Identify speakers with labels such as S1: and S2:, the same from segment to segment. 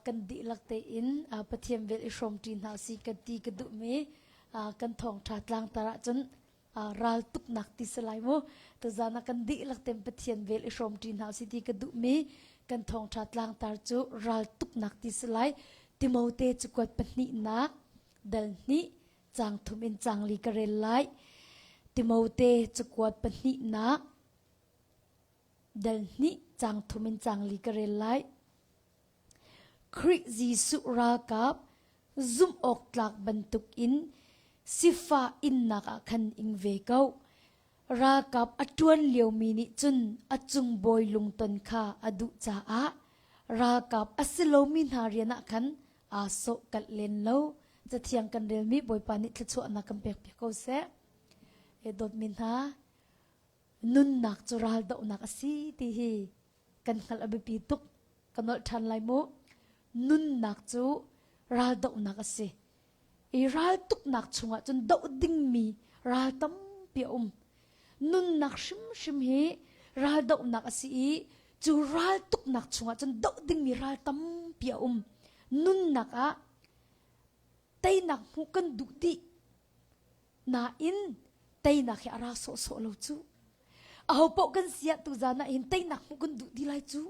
S1: kan dihlak tein Pathian vel i hrawmṭi hna si kan ti ka duhmi kan thawngṭha tlangtar ahcun ral tuknak ti si lai mu tazan ah kan dihlak ten Pathian vel i hrawmṭi hna si ti ka duhmi kan thawngṭha tlangtar cu ral tuknak ti si lai Timote cu kuat pahnihnak dal hnih cang thum in cang li ka rel lai Timote cu kuat pahnihnak dal hnih cang thum in cang li ka rel lai Khrih Jesuh ralkap zumhawktlak bantuk in sifah innak ah khan ing ve ko. Ralkap a ṭuan liomi nih cun a cung bawi lungton kha a duh caah ralkap a si lomi hna rian ah khan aa sawhkalh len lo. Cathiang kan relmi Bawipa nih thluachuahnak kan pek piak ko seh. E dawtmi hna, nunnak cu raldohnak a si ti hi kan hngalh a biapi tuk. Ka nolh ṭhan lai mu. Nunnak cu raldohnak a si. I raltuknak chungah cun doh dingmi ral tampi a um. Nunnak hrimhrim hi raldohnak a si i cu raltuknak chungah cun doh dingmi ral tampi a um. Nunnak ah teinak hmuh kan duh dih. Nain teinak hi a ra sawhsawh lo cu. Aho paoh kan siahtu zan ah hin teinak hmuh kan duh ti lai cu.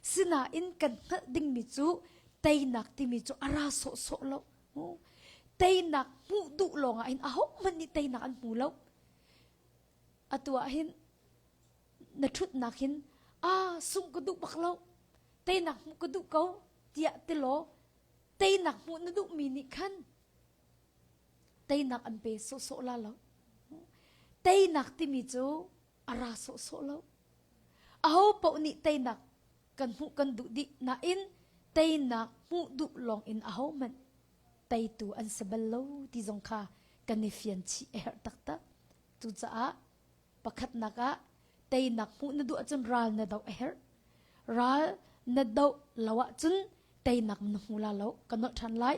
S1: Sinain kan hngalh dingmi cu teinak timi cu a ra sawhsawh lo. Teinak hmuh duh lawngah hin ahohmanh nih teinak an hmu lo. Atu ah hin na ṭhutnak hin aa sum ka duh bak lo, teinak hmuh ka duh ko tiah ti law teinak hmuh na duhmi nih khan Teinak an pe sawhsawh la lo. Teinak timi cu a ra sawhsawh lo. Aho paoh nih teinak kan hmuh kan duh dih nain teinak hmuh duh lawng in aho hmanh teitu an si bal lo ti zong kha kan i fian chih a herh taktak. Cucaah Pakhatnak ah, teinak hmuh na duh ahcun ral na doh a herh. Ral na doh lo ahcun teinak na hmu la lo. Ka nolh ṭhan lai.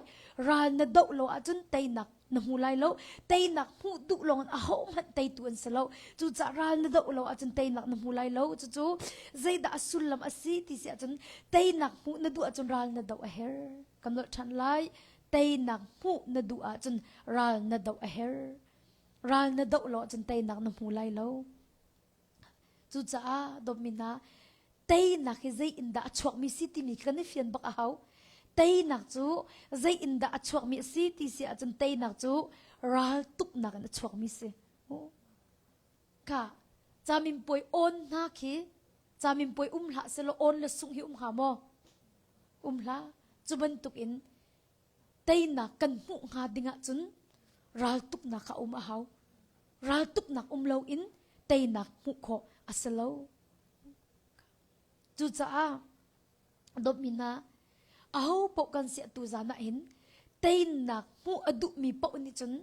S1: Ral na doh lo ahcun teinak na hmu lai lo. Teinak hmuh duh lawngin ahohmanh teitu an si lo. Cucaah ral na doh lo ahcun teinak na hmu lai lo. Cucu zeidah a sullam a si ti si ahcun teinak hmuh na duh ahcun ral na doh a herh. Ka nolh ṭhan lai. Teinak hmuh na duh ahcun ral na doh a herh. Ral na doh law cun teinak na hmu lai lo. Cucaah dawtmin ah teinak hi zei in dah a chuakmi si timi kan i fian bak a hau. Teinak cu zei in dah a chuakmi a si ti si ahcun teinak cu ral tuknak in a chuakmi si. Ka camin puai on hna khi camin puai um hlah selaw on le sung hi um hnga maw? Um hla. Cu bantuk in Teinak kan hmuh hnga dingah cun raltuknak a um a hau. Raltuknak um loin teinak hmuh khawh a si lo. Cucaah domina aho paoh kan si tu zan ah hin teinak hmuh a duhmi paoh nih cun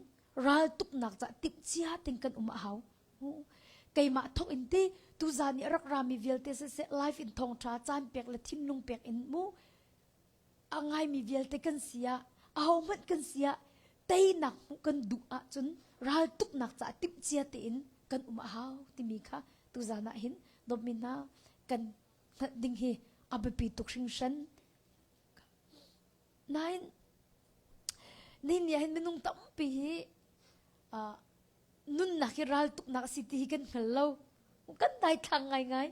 S1: raltuknak ca timh cia ting kan um a hau. Keimah thawk in ti tu zan i rak rami vialte siseh life in thawngtha caan pek le thinlung pek in mu a ngaimi vialte kan si ah, ahohmanh kan si ah, teinak hmuh kan duh ahcun raltuknak caah timhcia tein kan um a hau timi kha tuzan ah hin dawtmi hna kan hngalh ding hi a biapi tuk hringhran. Nain, nihin ni ah hin minung tampi hi uh, nunnak hi raltuknak a si ti hi kan hngal lo kan daithlang ngaingai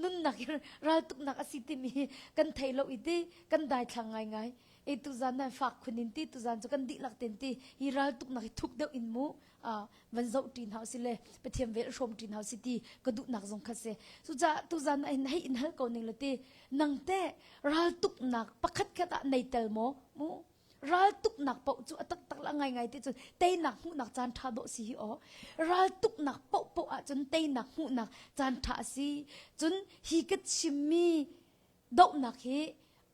S1: nunnak hi raltuknak a si timi hi kan thei lo i ti kan daithlang ngaingai e tu zan nan fak khun in ti tu zan chu kan dihlak ten ti hi raltuknak hi thuk deuh in mu a van zo ṭin hau si le pathiam vel hrom ṭin hau si ti ka duhnak zong kha se su ca tu zan na in hei in hal ko ning le ti nang te raltuknak pakhat khat ah nei tel maw mu Raltuknak paoh cu a taktak la ngaingai ti cun teinak hmuhnak caan ṭha dawh si hi aw. Raltuknak paohpaoh ahcun teinak hmuhnak caan ṭha a si. Cun hi ka chimmi dohnak hi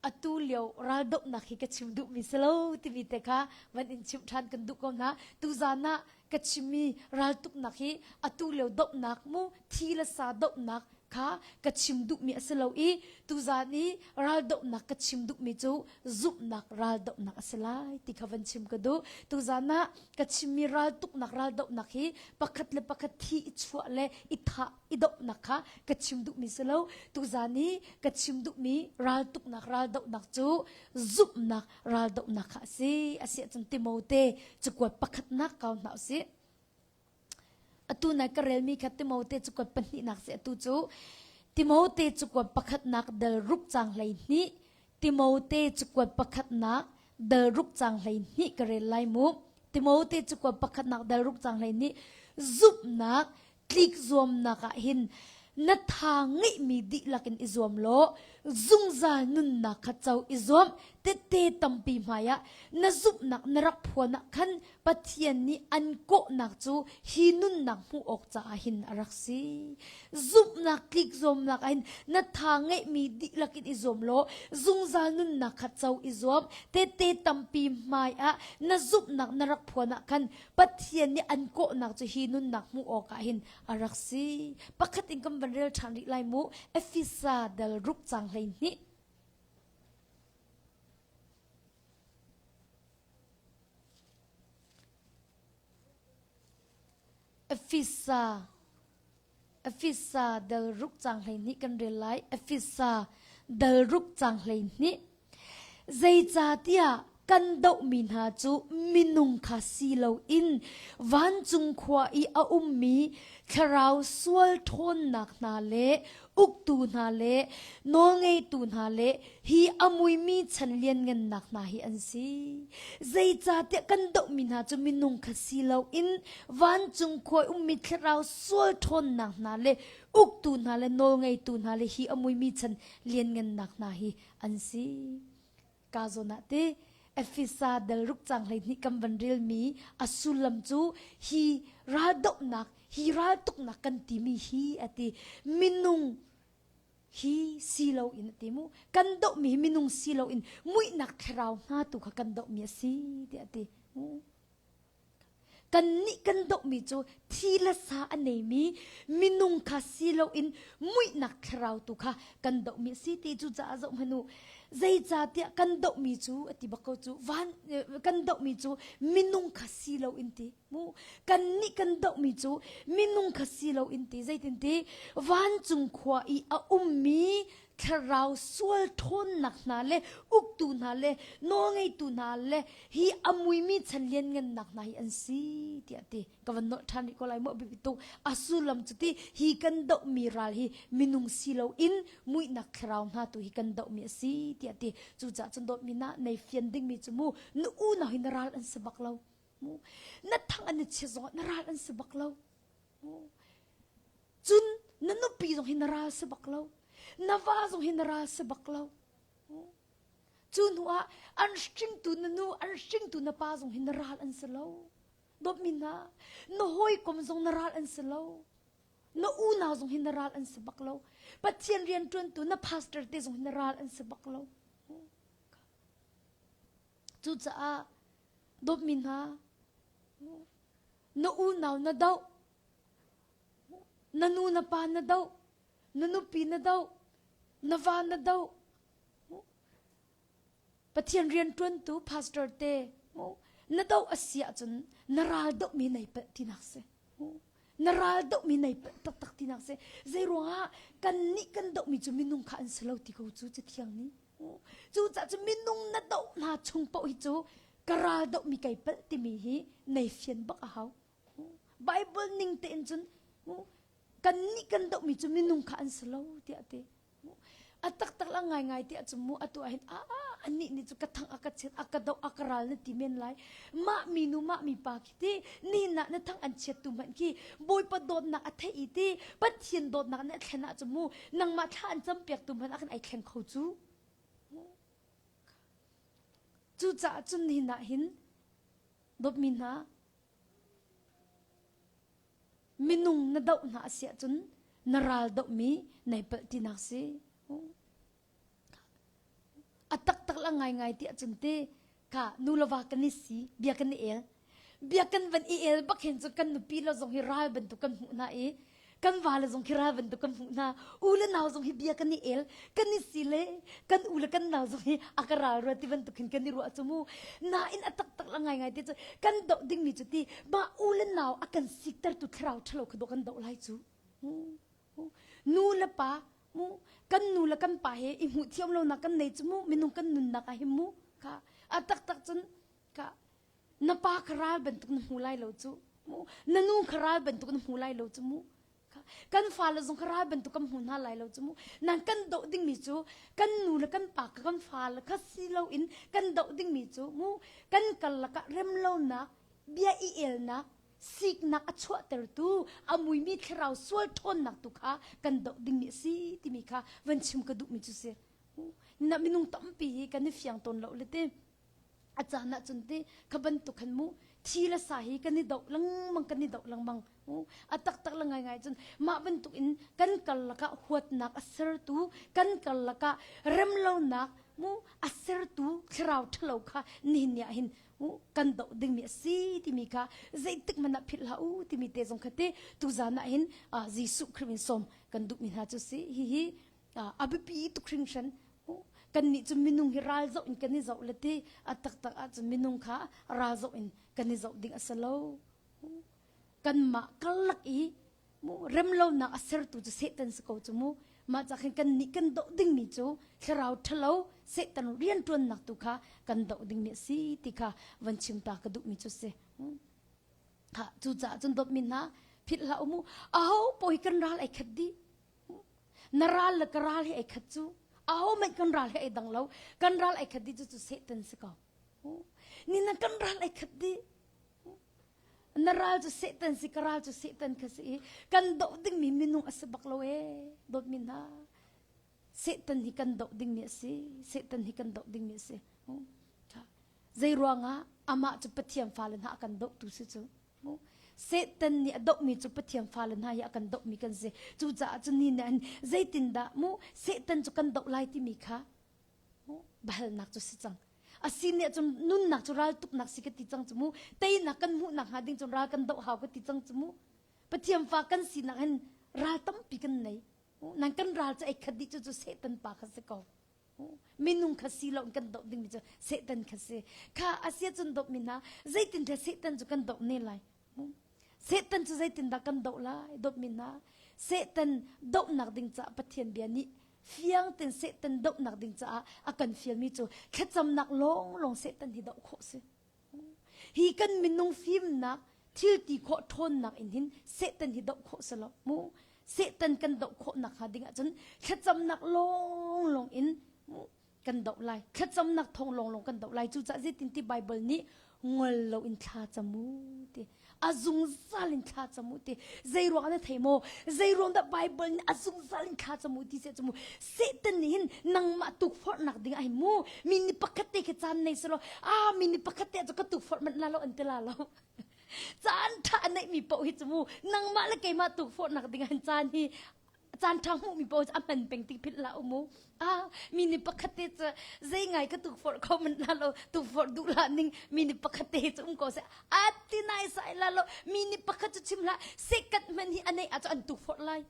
S1: atu lio raldohnak hi ka chim duhmi si lo timi te kha van in chimh ṭhan kan duh ko hna. Tuzan ah ka chimmi raltuknak hi atu lio dohnak mu thi le sa dohnak kha ka chim duhmi a si lo i tuzan i raldohnak ka chim duhmi cu zumhnak raldohnak a si lai ti kha van chim ka duh tuzan ah ka chimmi raltuknak raldohnak hi pakhat le pakhat thi i chuah le i thah i dohnak kha ka chim duhmi si lo tuzan i ka chim duhmi raltuknak raldohnak cu zumhnak ral dohnak kha a si a si ahcun Timote cakuat pakhatnak kau hna u sih atu nai ka relmi kha Timote cakuat pahnihnak si atu cu Timote cakuat pakhatnak dal ruk cang hlei hnih Timote cakuat pakhatnak dal ruk cang hlei hnih ka rel lai mu Timote cakuat pakhatnak dal ruk cang hlei hnih zumhnak tlikzuamnak ah hin na tha ngeihmi dihlak in i zuam law zungzal nunnak kha co i zuam tete tampi hmai ah na zumhnak na rak phuan ah khan Pathian nih an kawhnak cu hi nunnak hmuh awk caah hin a rak si zumhnak tlikzuamnak ah hin na tha ngeihmi dihlak in i zuam law zungzal nunnak kha co i zuam tete tampi hmai ah na zumhnak na rak phuan ah khan Pathian nih an kawhnak cu hi nunnak hmuh awkah hin a rak si. Pakhat in kan van rel ṭhan rih lai mu. Efesa dal ruk cang hlei hnih. Efesa Efesa dal ruk cang hleihnih kan rel lai. Efesa dal ruk cang hleihnih. Zeicatiah kan dohmi hna cu minung kha si loin vancung khua i a ummi thlarau sual ṭhawnnak hna le uktu hna le nawlngeitu hna le hi a muimi chan lianngannak hna hi an si zeicahtiah kan dohmi hna cu minung kha si loin vancung khuai ummi thlarau sual ṭhawnnak hna le uktu hna le nawlngeitu hna le hi a muimi chan lianngannak hna hi an si ka zawn ah ti efesa dal ruk cang hlei nih kan van relmi a sullam cu hi raldohnak hi raltuknak kan timi hi a ti minung hi si loin a ti mu kan dohmi minung si loin muihnak thlarau hna tu kha kan dohmi a si tiah a ti kan nih kan dohmi cu thi le sa a neimi minung kha si loin muihnak thlarau tu kha kan dohmi a si ti cu caah zoh hmanu zeicahtiah kan dohmi cu a ti bak ko cu van kan dohmi cu minung kha si loin ti hmu kan nih kan dohmi cu minung kha si lo in ti zeitin ti vancung khua i a ummi thlarau sual ṭhawnnak hna le uktu hna le nawlngeitu hna le hi a muimi chan lianngannak hna hi an si tiah ti ka van nolh ṭhan rih ko lai maw biapi tuk a sullam cu ti hi kan dohmi ral hi minung si lo in muihnak thlarau hna tu hi kan dohmi a si tiah ti cucaah cun dawtmi na nei fian dingmi cu mu na unau hi na ral an si bak lo na thang an i chia zong ah na ral an si bak lo cun na nupi zong hi na ral si bak lo na va zong hi na ral si bak lo cu hnu ah an hringtu na nu an hringtu na pa zong hi na ral an si lo dawpmin na na hawikom zong na ral an si lo na unau zong hi na ral an si bak lo pathian rian tuantu na pastor te zong hi na ral an si bak lo cucaah Dawtmi hna, na unau na doh, na nu na pa na doh, na nupi na doh, na va na doh. Pathian rianṭuantu pastor te na doh a si ahcun na ral dohmi nai palh tinak si. Na ral dohmi nai palh taktak tinak si. Zei ruangah kannih kan dohmi cu minung kha an si lo ti ko cu cathiang nih. Cucaah cu minung na doh hna chung paoh hi cu ka ral dohmi kei palh timi hi nei fian bak a hau. Bible ning tein cun kannih kan dohmi cu minung kha an si lo tiah ti. A taktak la ngaingai tiah cu mu atu ahhin a anih nih cu ka thang a ka chiat a ka doh a ka ral na ti men lai mah minu mah mi pa khi ti nihnak na thang an chiattu hmanh khi bawipa dawtnak a theih i ti pathian dawtnak nih a thlen ah cu mu nangmah thla an cam piaktu hmanh ah kan ai thleng kho cu cucaah cun nihnak hin dawtmi hna minung na doh hna a siah cun na ral dohmi nai palh tinak si A taktak la ngaingai ti ahcun ti ka nu le va kan i si bia kan i el bia kan van i el bak hin cu kan nupi le zong hi ral bantuk kan hmuh hna i kan va le zong hi ral bantuk kan hmuh hna u le nau zong hi bia kan i el kan i si le kan u le kan nau zong hi a ka ral rua ti bantuk hin kan i ruah cu mu nain a taktak la ngaingai ti cu kan doh dingmi cu ti ba u le nau a kan siktertu thlarau ṭhalo kha do kan doh lai cu. Hmm. nu le pa mu kan nu le kan pa he i hmuh thiam lonak kan nei cu mu minung kan nunnak ah hi mu ka a taktak cun ka na pa kha ral bantuk na hmu lai lo cu mu na nu kha ral bantuk na hmu lai lo cu mu kan fale zong ka ral bantuk kan hmu hna lai lo cu mu nang kan doh dingmi cu kan nu le kan pa ka kan fale kha si lo in kan doh dingmi cu mu kan kal lakah remlonak bia i elnak siknak a chuahtertu a muimi thlarau sual ṭhawnnak tu kha kan doh dingmi a si timi kha van chim ka duhmi cu si na minung tampi hi kan i fiang tawn lo le te a caan ahcun te kha bantuk khan mu thi le sa hi kan i doh lengmang kan i doh lengmang a taktak le ngaingai cun mah bantuk in kan karlak ah huatnak a sertu kan karlak ah remlonak mu a sertu thlarau ṭhalo kha nihin ni ah hin kan doh dingmi a si timi kha zeitik man ah philh hlah u timi te zong kha ti tuzan ah hin Jesuh Khrist in som kan duhmi hna cu si hi hi a biapi tuk hringhran kannih cu minung hi ral zoh in kan i zoh le ti a taktak ahcun minung kha ral zoh in kan i zoh ding a si lo kanmah karlak i remlonak a sertu cu Satan si ko cu mu mah cah khin kan nih kan doh dingmi cu thlarau ṭhalo Satan rianṭuannak tu kha kan doh ding ni a si ti kha van chim ta ka duhmi cu si ha cucaah cun dawtmi hna philh hlah umu aho poi kan ral ai khat di na ral le ka ral hi ai khat cu aho mai kan ral hi ai dang lo kan ral ai khat di cu cu Satan si ko ni na kan ral ai khat di Na ral cu Satan si, ka ral cu Satan kha si i kan doh dingmi minung a si bak lo ee. Dawtmi hna, Satan hi kan doh dingmi a si. Satan hi kan doh dingmi a si. Zei ruangah amah cu Pathian fale hna a kan dohtu si cu. Satan nih a dohmi cu Pathian fale hna hi a kan dohmi kan si. Cucaah cu ni nih an zeitindah mu Satan cu kan doh lai timi kha Balnak cu si cang. A sin nih cun nunnak cu raltuknak si ka ti cang cu mu. Teinak kan hmuh nak hnga ding cun ral kan doh hau ka ti cang cu mu. Pathian fa kan si nak hin ral tampi kan nei. Nang kan ral cu ei khat dih cu cu Satan pa kha si ko. Minung kha si lo in kan doh dingmi cu Satan kha si. Kha a sia cun dohmi hna zeitin te Satan cu kan doh ne lai. Satan cu zeitindah kan doh lai dawtmi hna Satan dohnak ding caah Pathian bia nih fiang ten Satan dohnak ding caah a kan fialmi cu thlacamnak lawnglawng Satan hi doh khawh si hi kan minung fimnak thilti khawh ṭhawnnak in hin Satan hi doh khawh si lo mu Satan kan doh khawh nakhnga ding ahcun thlacamnak lawnglawng in kan doh lai thlacamnak thong lawnglawng kan doh lai cucah zeitinti Bible nih ngol loin thlacam u ti a zungzal in thlacam u ti zei ruang na thei maw zei ruang dah Bible nih a zungzal in thlacam u ti thlacam u Satan nih hin nangmah tukforhnak ding ai mu mi ni pakhat te khi caan nei selo a mi ni pakhat te cu ka tukforh manh la lo an ti la lo caan tha a neih mi poh hi chu mu nangmah le keimah tukforhnak ding an caan hi a caan ṭha hmuhmi paoh cu a man peng ti philh hlah u mu ah mi ni pakhat te cu zei ngai ka tuk forh kho manh la lo tuk forh duh la ning mi ni pakhat te cu um ko seh a ti nai sai la lo mi ni pakhat cu chim hlah second man hi anei a cu an tuk forh lai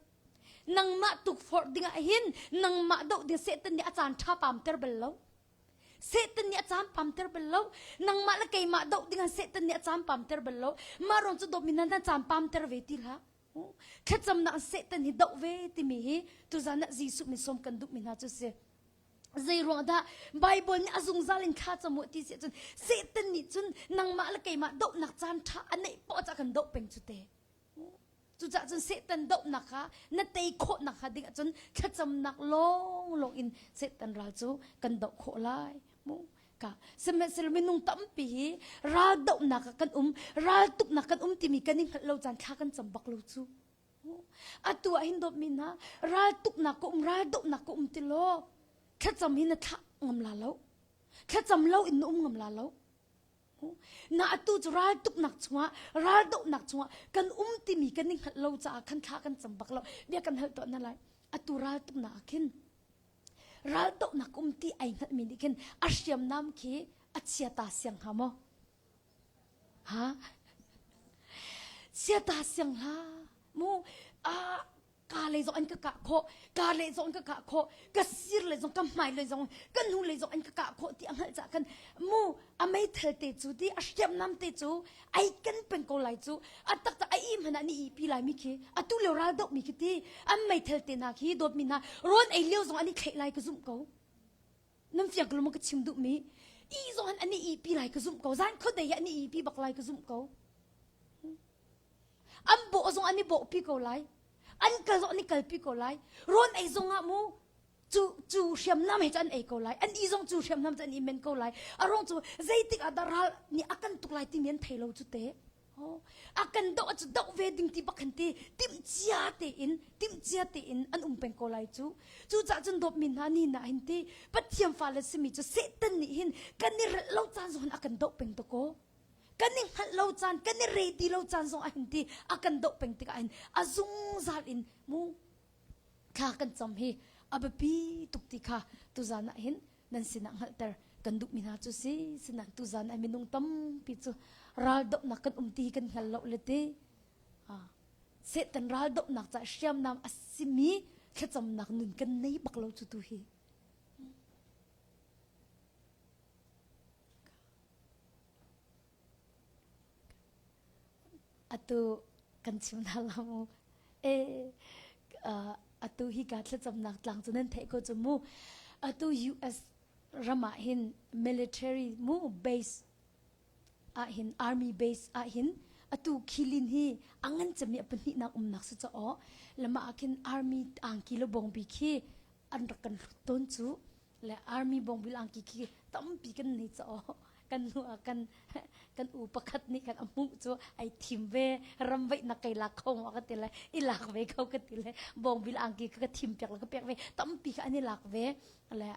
S1: nangmah tuk forh ding ah hin nangmah do de satan nih a caan ṭha pam ter bel lo Satan nih a cam pam ter bel lo nangmah le keimah doh dingah Satan nih a cam pam ter bel lo ma ron cu dominan an cam pam ter ve ti hlah Thlacamnak Satan hi doh ve timi hi tuzan ah Jesuh min som kan duh mi hna cu si. Zeiruang dah Bible nih a zungzal in thla camu ti si cun Satan nih cun nangmah le keimah dohnak caan ṭha a neih poah cah kan doh peng cu te. Cucaah cun Satan dohnak kha na tei khawhnak hnga ding ah cun thlacamnak lawnglawng in Satan ral cu kan doh khawh lai. ka sihmanhsehlaw minung tampi hi ral dohnak ah kan um ral tuknak kan um timi kan i hngalh lo caan thla kan cam bak lo cu atu ah hin dawtmi hna ral tuknak ka um ral dohnak ka um ti law thlacam hi na thla ngam la lo thlacam lo in na um ngam la lo na atu cu ral tuknak chungah ral dohnak chungah kan um timi kan i hngalh lo caah khan thla kan cam bak lo bia kan hal to na lai atu ral tuknak ah khin Raldohnak um ti ai hngalhmi nih khin a hriamnam khi a chia ta siang hnga maw? Ha? Sia ta siang hla mu a ka le zong an ka kah khawh ka le zong an ka kah khawh ka sir le zong ka hmai le zong ka nu le zong an ka kah khawh ti a hngalh cah khan mu a meithal te cu ti a hriamnam te cu ai kan pen ko lai cu a tak ta a i hman ah ni i pi lai mi khi a tu leo ral deuh mi khi ti an meithal te na khi dawt mi na ron ei leo zong an i thleh lai ka zumh ko nan fiang ko lama ka chim duh mi i zon ani i pi lai ka zum ko zan khot dei ani i pi bak lai ka zum ko an bo zong ani bo pi ko lai an kal zong ani kal pi ko lai ron ei zong ah mu cu cu hriamnam he cun an ei ko lai an i zong cu hriamnam cun an i men ko lai a rong cu zeitik ah dah ral nih a kan tuk lai timi an thei lo cu te a kan doh cu doh ve ding ti bak ti timhcia tein timhcia tein an um peng ko lai cu cucah cun dawpmi hna ni na hin ti pathian fale simi cu satan nih hin kan i relh lo caan zong a kan doh peng to ko kan i hngalh lo caan kan i ready lo caan zong a hin ti a kan doh peng tikah hin a zungzal in mu thla kan cam hi a biapi tuk ti kha tuzan ah hin nan sinah hngalhter kan duhmi hna cu si sina tuzan ah minung tampi cu raldohnak kan um ti kan hngal lo le ti setan raldohnak ca hriamnam a simi thlacamnak nun kan nei bak lo cu tu hi Atu kan chim hna lo mu. Atu hika thlacamnak tlang cu nan theih ko cu mu. Atu US ram ah hin military mu base ah hin army base ah hin atu khilin hi angan cami a pahnih nak umnak si caw lama ah khin army angki le bongbi khi an rak kan hruk tawn cu. le army bongbil angki khi tampi kan nei cha kan nu kan kan u pakhat nih kan amu cu ai thim ve ram vei na kai lak kho ma ka ti le i lak ve kho ka ti le bongbil angki ka thim piak le ka piak ve tampi ka an i lak ve le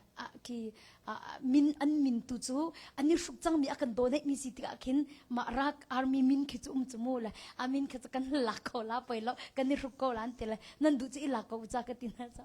S1: ki min an min tu cu ani hruk chang mi akan donate mi si tikah khin ma rak army min khi chu um chu mu le amin khi kan lak kho la poi lo kan i hruk ko lan te le nan du chi i lak ko cha ka ti na cha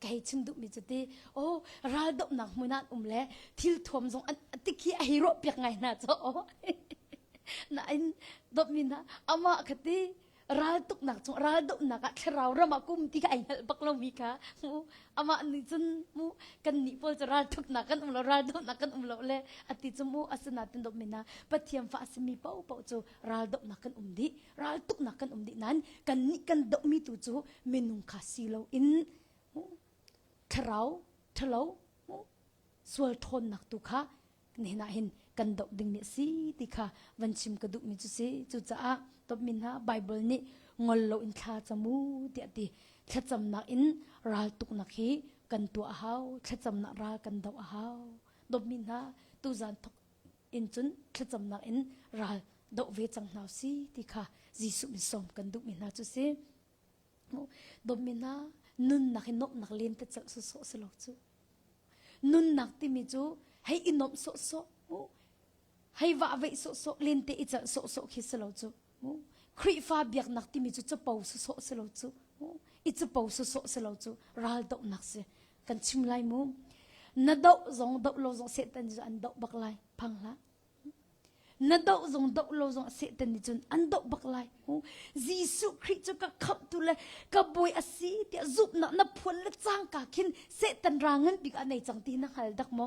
S1: ka hei chim duhmi cu ti oh raldohnak hmun ah um le thil thuam zong an tikhi a hei ruah piak ngai hna co na in dopmi na ama ka ti raltuknak cung raldohnak ah thlarau ram ah kum ti ka ai nal bak lo mi ka mu ama ni cun mu kan ni pol chu raltuknak kan um lo raldohnak kan um lo le ati chu mu asina tin dopmi na pathiam fa asimi pau pau chu raldohnak kan um di raltuknak kan um dih nain kan nih kan dohmi tu cu minung kha si lo in thlarau thalo sual ṭhawnnak tu kha nihna hin kan doh ding ni si ti kha van chim ka duhmi cu si cucaah topmi hna Bible nih ngol lo in thla camu tiah ti thlacamnak in raltuknak hi kan tuah a hau thlacamnak ral kan do a hau dopmi hna tuzan thok in cun thlacamnak in ral doh ve cang hna si ti kha Jesuh min sawm kan duhmi hna cu si dawtmi hna nunnak in nuamhnak len te celh sawsawh si lo cu nunnak timi cu hei i nuamh sawsawh hei vahveih sawsawh lente i celh sawsawh khi si lo cu Khrihfa biaknak timi cu capo sawsawh si lo cu i capo sawsawh si lo cu ral dohnak si kan chim lai mu na doh zong doh lo zong setan cu an doh bak lai phang hlah na doh zong doh lo zong setan nih cun an doh bak lai Jesuh Khrih cu ka khamh tu le ka boi asi ti zumhnak na phuan le cangka khin setan ra ngan bik a nei cang ti na hal dak mo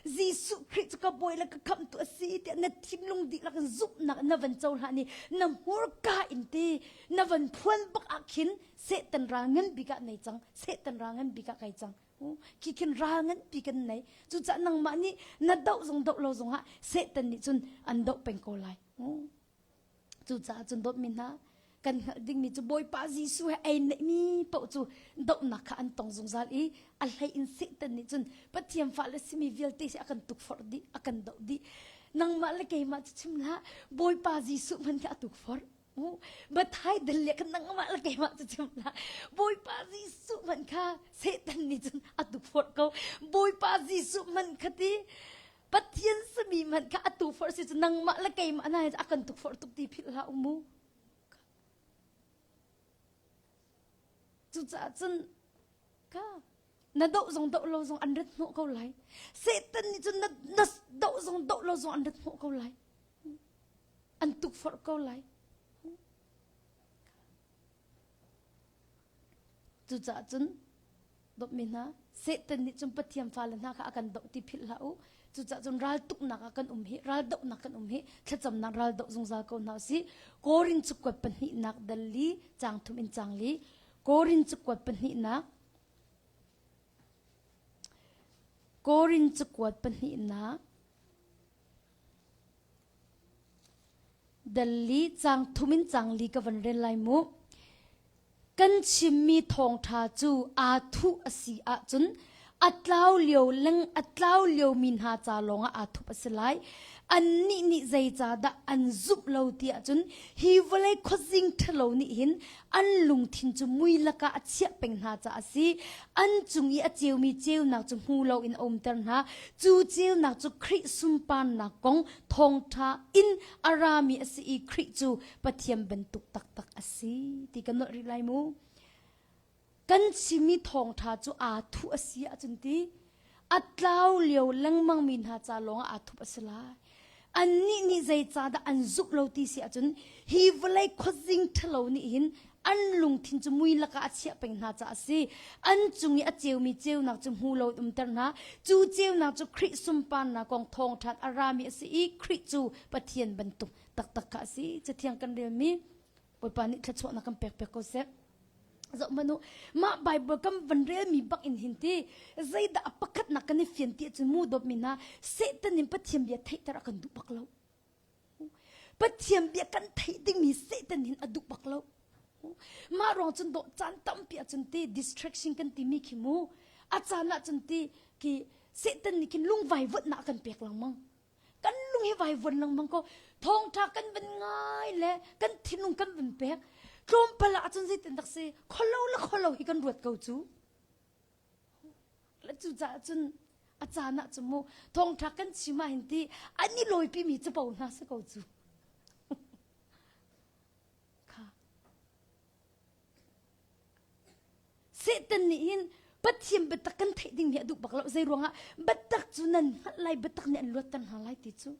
S1: Jesuh Khrih cu ka boi le ka khamh tu asi ti na thim lung di lak zumhnak na van cho hla ni na hmurka in ti na van phuan bak a khin Satan ral ngan bik ah nei cang, Satan ral ngan bik ah kai cang. Khi khin ral nganpi kan nei. Cucah nangmah nih na doh zong doh lo zong ah Satan nih cun an doh peng ko lai. Cucaah cun dawtmi hna, kan hngalh dingmi cu Bawipa Jesuh he ei neihmi paoh cu dohnak kha an tong zungzal i a hlei in Satan nih cun Pathian fa le simi vialte hi a kan tukforh dih, a kan doh dih. Nangmah le keimah cu chim hlah, Bawipa Jesuh hmanh hi a tukforh. Bathai dal le kan nang mah la keimah cu chim la Bawipa Jesuh man kha Satan nih cun atu phorh ko Bawipa Jesuh man kha ti Pathian sami man kha atu phorh si cu nangmah la keimah na a kan tuk phorh tuk ti phil hlah u mu cucaah cun ka na doh zong doh lo zong an rat hnawh ko lai satan nih cun na, na doh zong doh lo zong an rat hnawh ko lai an tukforh ko lai cucaah cun dawtmi hna satan nih cun pathian fale hna kha a kan doh ti philh hlah u cucaah cun raltuknak ah kan um hi raldohnak kan um hi thlacamnak raldoh zungzal ko hna si korin cu kuat pahnihnak dal li chang thum in chang li korin cu kuat pahnihnak Korin cakuat pahnihnak Dal li cang thum in cang li ka van ren lai mu. Kan chimmi thawngtha cu aa thuh a si ahcun a tlau lio leng a tlau lio mi hna ca lawng ah aa thup a si lai. Annih nih zei ca dah an zumh lo ti ahcun hi vawlei khuazing ṭhalo nih hin an lungthin cu ngui lakah a chiah peng hna caah a si an cung i a ceumi ceunak cu hmu loin a umter hna cu ceunak cu Khrih sunparnak kong thawngṭha in a rami a si i Khrih cu Pathian bantuk taktak a si ti kan nolh rih lai mu kan simi thawngṭha cu aa thuh a si ahcun ti a tlau lio lengmang mi hna ca lawngah aa thup a si lai annih nih zeicahdah an zumh lo ti si ahcun hi vawlei khuazing ṭhalo nih hin an lungthin cu mui lakah a chiah peng hna caah a si an cung i a ceumi ceunak cu hmu lo in umter hna cu ceunak cu Khrih sunparnak kong thawngṭhan a rami a si i Khrih cu Pathian bantuk taktak kha a si cathiang kan relmi Bawipa nih thluachuahnak kan pekpek ko seh. Zoh hmanh u, mah Bible kan van relmi bak in hin ti zeidah a pakhatnak kan i fian ti cu mu dawpmi hna Satan in Pathian bia theihter a kan duh bak lo. Pathian bia kan theih dingmi Satan hin a duh bak lo. Mah ruang cun dawh caan tampi ahcun ti distraction kan timi khi mu. A caan ahcun ti ki Satan nih khin lungvai vutnak kan pek lengmang. kan lung hi vai von lengmang ko thawngtha kan van ngai le kan thinlung kan van pek tlawmpal ah cun zeitin tak si kholo le kholo hi kan ruat ko cu la cu ca cun a caan ah cu mu thawngtha kan chima hin ti ani loipi mi cu po hna si ko cu Satan nih hin Pathian biatak kan theih ding hi a duh bak lo zei ruangah biatak cu nan hngalh lai biatak nih an luatter hna lai ti cu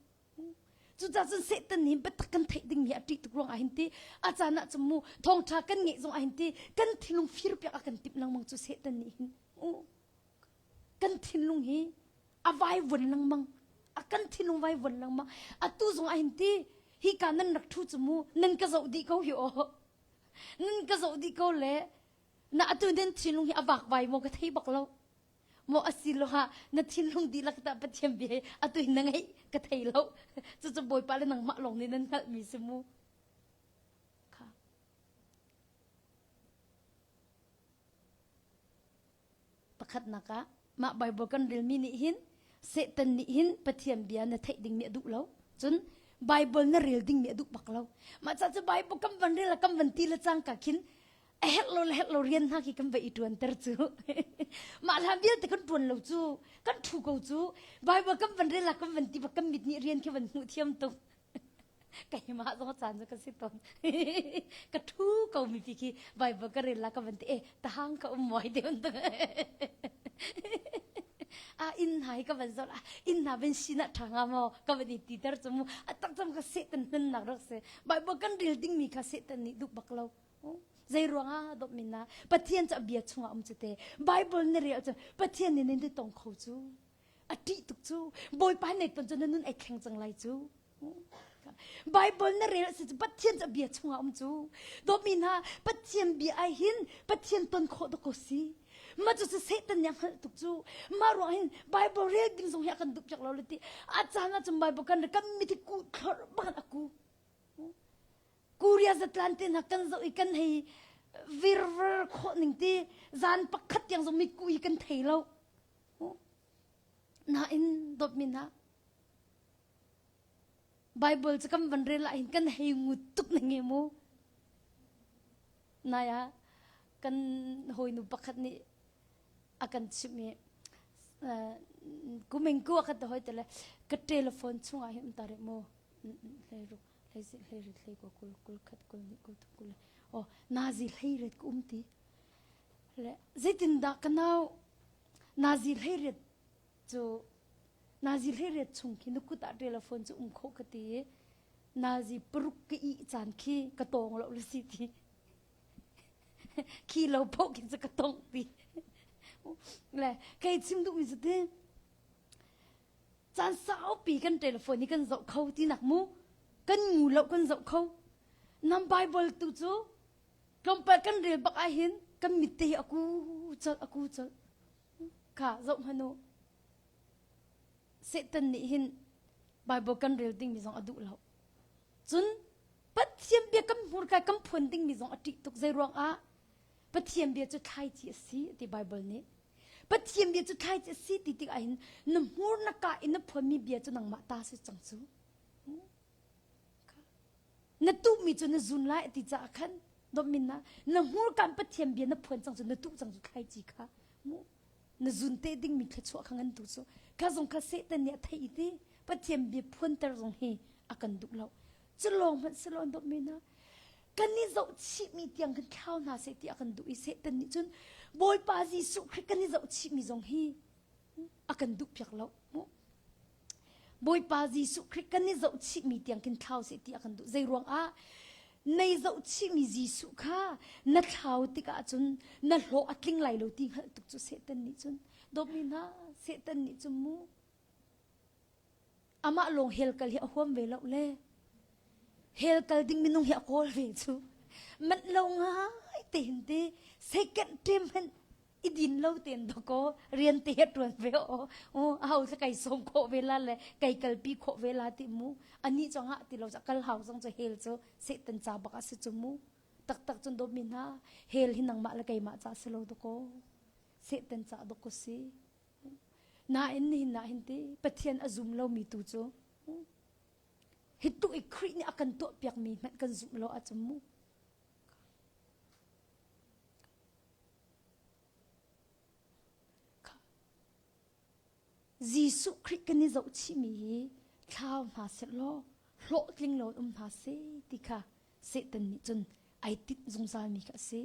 S1: cucaah cun Satan nih biatak kan theih ding mi a ṭih tuk ruangah hin ti a caan ah cu mu thawngṭha kan ngeih zongah hin ti kan thinlung fir piak a kan timh lengmang cu Satan nih hin kan thinlung hi a vaivuan lengmang a kan thinlung vaivuan lengmang atu zongah hin ti hika nan rak ṭhu cu mu nan ka zoh dih ko hi aw Nan ka zoh dih ko le na atu den thinlung hi a vak vai maw ka thei bak lo maw asi lo ha na thinlung dihlak tah pathian bia hi atu in na ngeih ka thei lo cucu bawipa le nangmah lawng nih nan hngalh mi si mu kha Pakhatnak ah, mah Baibal kan relmi nih hin Satan nih hin Pathian bia na theih ding nih a duh lo. Cun Baibal na rel ding nih a duh bak lo. Mah ca cu Baibal kan van rel kan van ti le cang ka khin a herh lo le herh lo rian hna khi kan va i ṭuan ter cu. mah hla vialte kan ṭuan lo cu, kan ṭhu ko cu. Baibal kan van rel ah kan van ti bak kan mit nih rian khi van hmuh thiam tuk. keimah zong caan cu ka si tawn ka thu ko mi pi khi bible ka rel la ka van ti e tahang ka um muai te un a in nai ka van zol a in na ben sina thanga mo ka van i ti ter chumu a tak cham ka se tan nan nak rak se bible kan rel ding mi ka se tan ni duk bak lo zai ruanga dop min na pathian cha bia chunga um chu te bible ne rel chu pathian ni nen te tong kho chu a ṭih tuk cu bawipa net pan cun na nun ek thleng cang lai cu Bible na rel si cu Pathian cu a bia chungah um cu dawmi hna Pathian bia ai hin Pathian ton khawh dawk ko si ma cu si Satan nih a hngalh tuk cu ma ruang hin Bible rel ding zong hi a kan duh piak lo le ti a caan ah cun Bible kan kan mi thi ku thlor bang a ku kuria zatlan te hna kan zoh i kan hei virver khawh ning ti zan pakhat tiang zong mi ku hi kan thei lo Nain dawtmin ah Bible cu kan van rel ahhin kan hei ngut tuk na nge mu. Nai ah kan hawinu pakhat nih a kan chimh i kumeng ku a kan hoi tele ka telephone chung ah hin um ta re mu hlei ru hlei si hlei ru hlei ko kul kul khat kul hnih kul thum kul le o nazi hlei ret ka um ti zeitindah ka nau nazi hleiriat cu nazi hleiriat chung khi na kut ah telephone cu um khawh ka ti i nazi paruk ka ih caan khi ka tawng lo la si ti khi lo phoh khin cu ka tawng pi le kei chim duhmi cu ti caan saupi kan telephone i kan zoh kho ti nak mu kan ngu lo kan zoh kho nam bible tu cu Tlawmpal kan rel bak ah hin kan mit te hi a ku colh, a ku colh. Kha zoh hmanh u. Satan nih hin Bible kan rel dingmi zong a duh lo. Cun Pathian bia kan hmurkai kan phuan dingmi zong a ṭih tuk. Zei ruang ah? Pathian bia cu thlaici a si ti Bible nih. Pathian bia cu thlaici a si ti tikah hin na hmur na ka i na phuanmi bia cu nangmah ta si cang cu. na tuhmi cu na zun lai ti caah khan dommin na na hmurkan pathian bia na phuan cang cu na tuh cang cu thlaici kha mu na zun te dingmi thluachuah kha ngan tu cu kha zong kha satan nih a theih i ti pathian bia phuanter zong hi a kan duh lo cu lawng hmanh si lo dommin na kan i zoh chihmi tiang kan thlau hna seh ti a kan duh i satan nih cun bawipa jesuh khrih kan i zoh chihmi zong hi a kan duh piak lo Bawipa Jesuh Khrist kan i zoh chihmi tiang kin thlau seh ti a kan duh zei ruang ah nei zoh chihmi Jesuh kha na thlau tikah cun na hlawh a tling lai lo ti hngalh tuk cu Satan nih cun dawpmi hna Satan nih cun mu Amah lawng hell kal hi a huam ve lo le hell kal ding minung hi a kawl ve cu manh lo ngai te hin ti second time hen i din lo tein dakaw rian te he tuan ve aw u hau thla kai som khawh ve la le kai kalpi khawh ve la ti mu ani chong ah ti lo cha kal hau zong chu hell chu satan ca bak a si chu mu taktak cun dawmi hna hell hi nangmah le keimah ca si lo dakaw satan ca dakaw si Nain nihin ah hin ti Pathian a zum lomi tu cu hi tu i Khrih nih a kan tuahpiakmi hmanh kan zumh lo ahcun mu. Jesuh Khrih kan i zohchihmi hi thlau hna seh law hlawhtling lo um hna si ti kha Satan nih cun ai tinh zungzalmi kha a si.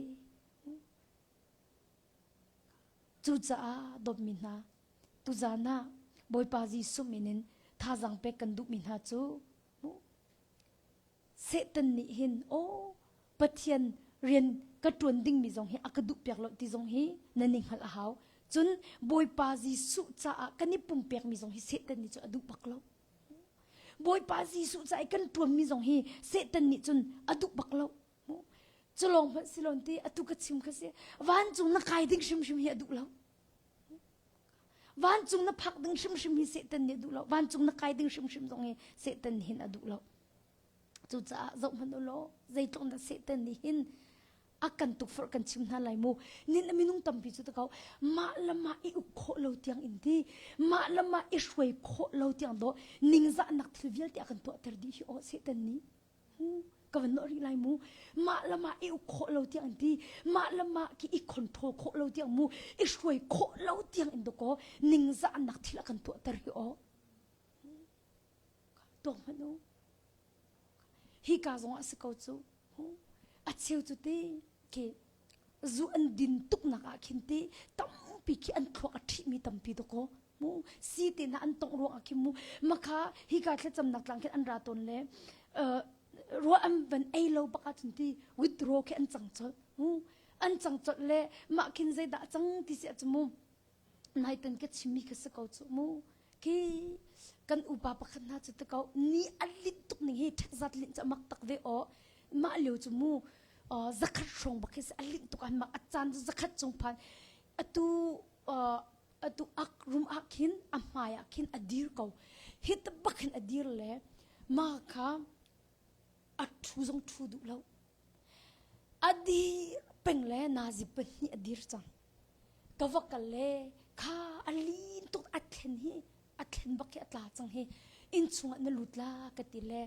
S1: Cucaah dawtmi hna, tuzan ah Bawipa Jesuh min in thazang pek kan duhmi hna cu Satan nih hin aw Pathian rian ka ṭuan dingmi zong hi a ka duhpiak lo ti zong hi nan i hngalh a hau. Cun Bawipa Jesuh caah kan i pumpekmi zong hi Satan nih cun a duh bak lo. Bawipa Jesuh caah i kan ṭuanmi zong hi Satan nih cun a duh bak lo. culawng hmanh si lon ti atu ka chim kha si vancung na kai ding hrimhrim hi a duh lo vancung na phak ding hrimhrim hi satan nih a duh lo vancung na kai ding hrimhrim zong hi satan hin a duh lo cucaah zoh hmanh u law zeitluk na satan nih hin a kan tukforh kan chim hna lai mu nin a minung tampi cu takau mah la mah i uk khawh lo tiang in ti mah la mah i hruai khawh lo tiang do ningzahnak thil vialte a kan tuahter dih hi aw satan nih Hu, ka van lawh rih lai mu. Mah lam ah i uk khawh lo tiang an ti. Mah lam ah ki i control khawh lo tiang mu. I hruai khawh lo tiang in dawkaw ningzah an nak thil a kan tuahter hi aw. Tuak hmanh u. Hi ka zong a si ko cu. Hu, a cheu cu te ke zu an din tuknak ah khin ti tampi khi an thluak a ṭhihmi tampi to ko mu si te na an tong ruang ah khin mu makha hi ka thlacamnak tlang khin an ra ton le ruwa an van ei lo bak ah cun ti withdraw khi an cang colh mu an cang colh le mah khin zeidah a cang ti si a cu mu Naiten ka chimmi ka si ko cu mu. Ki kan upa pakhat hna cu tako ni a lit tuk ning hi ṭhat zat lin ca mak tak ve o. Mah leo cu mu zakhat hrawng bak hi a lin tuk an mak a caan cu zakhat cung phan atu atu ak rum ah khin a hmai ah khin a dir ko. Hit bak in a dir le ma kha a ṭhu zong ṭhu duh lo. A dir peng le nazi pahnih a dir cang. Ka va kal le kha a lin tuk a thlen hi a thlen bak hi a tla cang hi in chungah na lut la ka ti le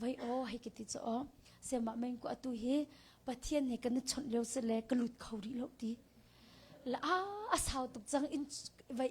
S1: vai o hei ka ti cho semah meng ko atu hi pathian he kan chawnh leo se le ka lut kho rih lo ti la a sau tuk cang in vai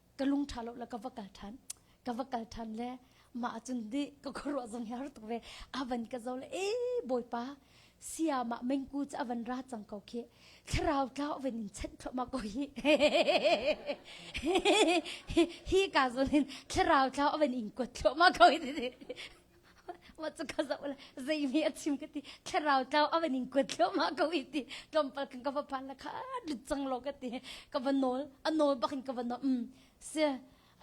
S1: ka lung ṭha lo le ka va kal ṭhan ka va kal ṭhan le mah ahcun nih ka khuaruah zong hi har tuk ve a van ka zo le e bawipa sia mah mengku cu a van ra cang ko khi thlarau tla ven in chanh thluahmah ko hi hi ka zon hin thlarau tla ven in kuat thluahmah ko hi wa chu ka za la zei mi a chim ka ti thlarau tlau ava ning kwat thlo ma ko i ti tlompa kan ka va phan la kha lut chang lo ka ti ka va nol a nol bakin ka va nol mm se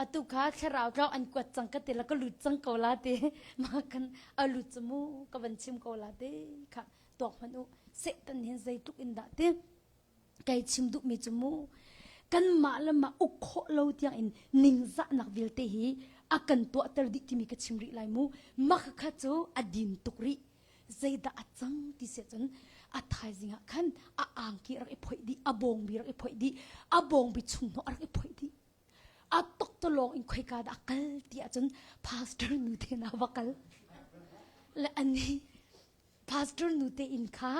S1: atu kha thlarau tlau an kwat chang ka ti la ka lut chang ko la ti ma kan a lut chu mu ka van chim ko la te kha tok man u se tan hin zei tuk in da te Kei chim duhmi cu mu kanmah le mah uk khawh lo tiangin ningzahnak vialte hi a kan tuahter dih timi ka chim rih lai mu mah kha cu a din tuk rih zeidah a cang ti se cun a thaizing ah khan a angki rak i phoih dih a bawngbi rak i phoih dih a bawngbi chung hnawh a rak i phoih dih a toktolong in khoika dah a kal ti ahcun pastor nu te na va kal le ani pastor nu te in kha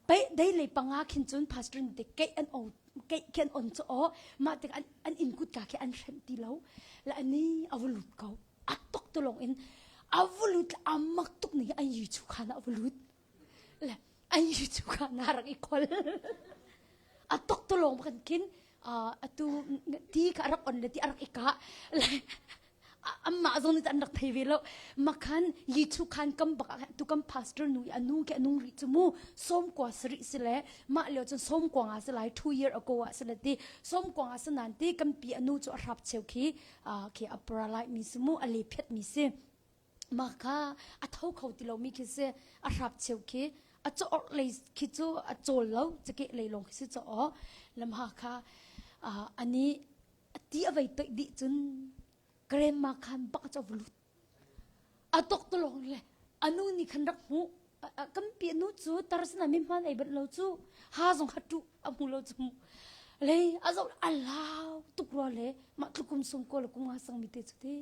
S1: pe dei le panga khin cun pastor nu te keih an o keih khin on cho o ma te an an in kut ka khi an hrem ti lo la ani avlut ko atok to long in avlut amak tuk ni an yu chu khana avlut le an yu chu khana rang i khol atok to long kan kin atu ti ka rak on le ti arak eka le Amah zong nih an rak thei ve lo. Makhan Yichu khan kam bak ah tu kam pastor nu i a nu ke a nung rih cu mu sawmkua sarih si le mah lio cun sawmkua nga si lai two year ago ah si le ti sawmkua nga si nan ti kan pi a nu cu a hrap cheu khi khi a paralite mi si mu a le phet mi si ma kha a tho kho ti lo mi khi si a hrap cheu khi a cho or lei khi cu a chol lo chake lei long khi si cho o lam ha kha ani A ti a vei toih dih cun grandma khan bak cu a va lut. A tok to lawng le a nu nih khan rak hmuh. Kampi a nu cu tar sinah mihman ei banh lo cu ha zong kha ṭuh a hmu lo cu hmuh. Lei a zoh a lau tuk rua le mah tlukum sung kaw le kum nga sangmi te cu ti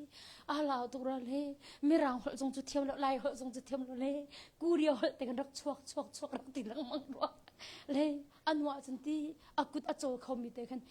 S1: a lau tuk rua le mirang holh zong cu thiam lo lai holh zong cu thiam lo le kuria holh te kan rak chuak chuak chuak rak ti lengmang rua le a nu ahcun ti a kut a caw khomi te khan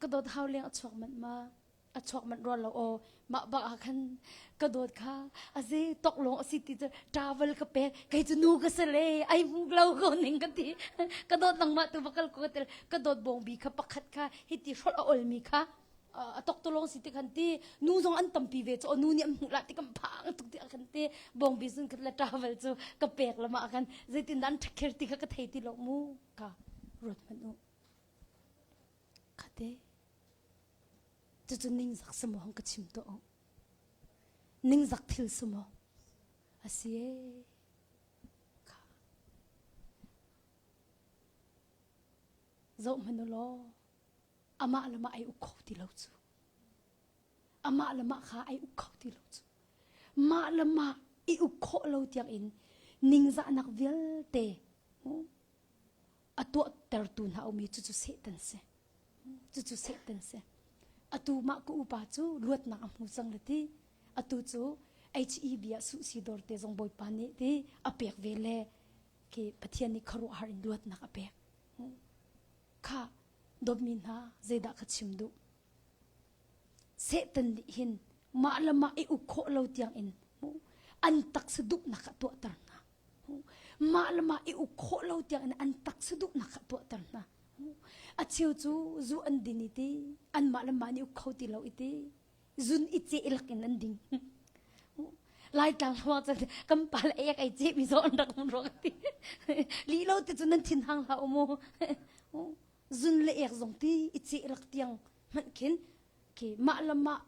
S1: ka dawt hau leng a chuak manh ma a chuak manh rua lo aw mah ba ah khan ka dawt kha a ze tok long asi ti cu travel ka pe kei cu nu ka se le ai mu lo ko ning ka ti ka dawt nang ma tu va kal ko tel ka dawt bong bi kha pakhat kha hi ti hrol a ol mi kha a tok to long si ti khan ti nu zong an tam pi ve chu nu nih an mu la ti kam phang tuk ti khan ti bong bi sun khat la travel chu ka pek lama khan zeitin dan ṭhakhir ti kha ka thei ti lo mu ka ruat man u Cucu ningzak si maw hong ka chim tuah uh. Ningzak thil si maw. A si ee. Kha. Zoh hmanu law. Amah lamah ai uk kho ti lo cu. Amah lamah kha ai uk kho ti lo cu. Mah lamah i uk khawh lo tiang in ningzahnak vialte a tuahtertu hna um i cucu Satan si. Cucu Satan si. Atu mah ka upa cu luatnak a hmu cang le ti. Atu cu HEB ah su si dor te zong bawipa nih ti a pek ve le ke Pathian nih kharuahhar in luatnak a pek. Kha dawtmi hna zeidah ka chim duh? Satan nih hin mah le mah i uk khawh lo tiang in an taksa duhnak a tuahter hna. Mah le mah i uk khawh lo tiangin an taksa duhnak kha a tuahter hna. A cheu cu zu an din i ti, anmah le mah nih uk kho ti lo i ti, zun i ceh lak in an ding. Laitlang hluang cun kan pal ei ai cehmi zaw an rak um ruak ti. Li lo te cun nan thin hang hlah u mu. Zun le ek zong ti i ceh lak tiang hmanh khin keimah le mah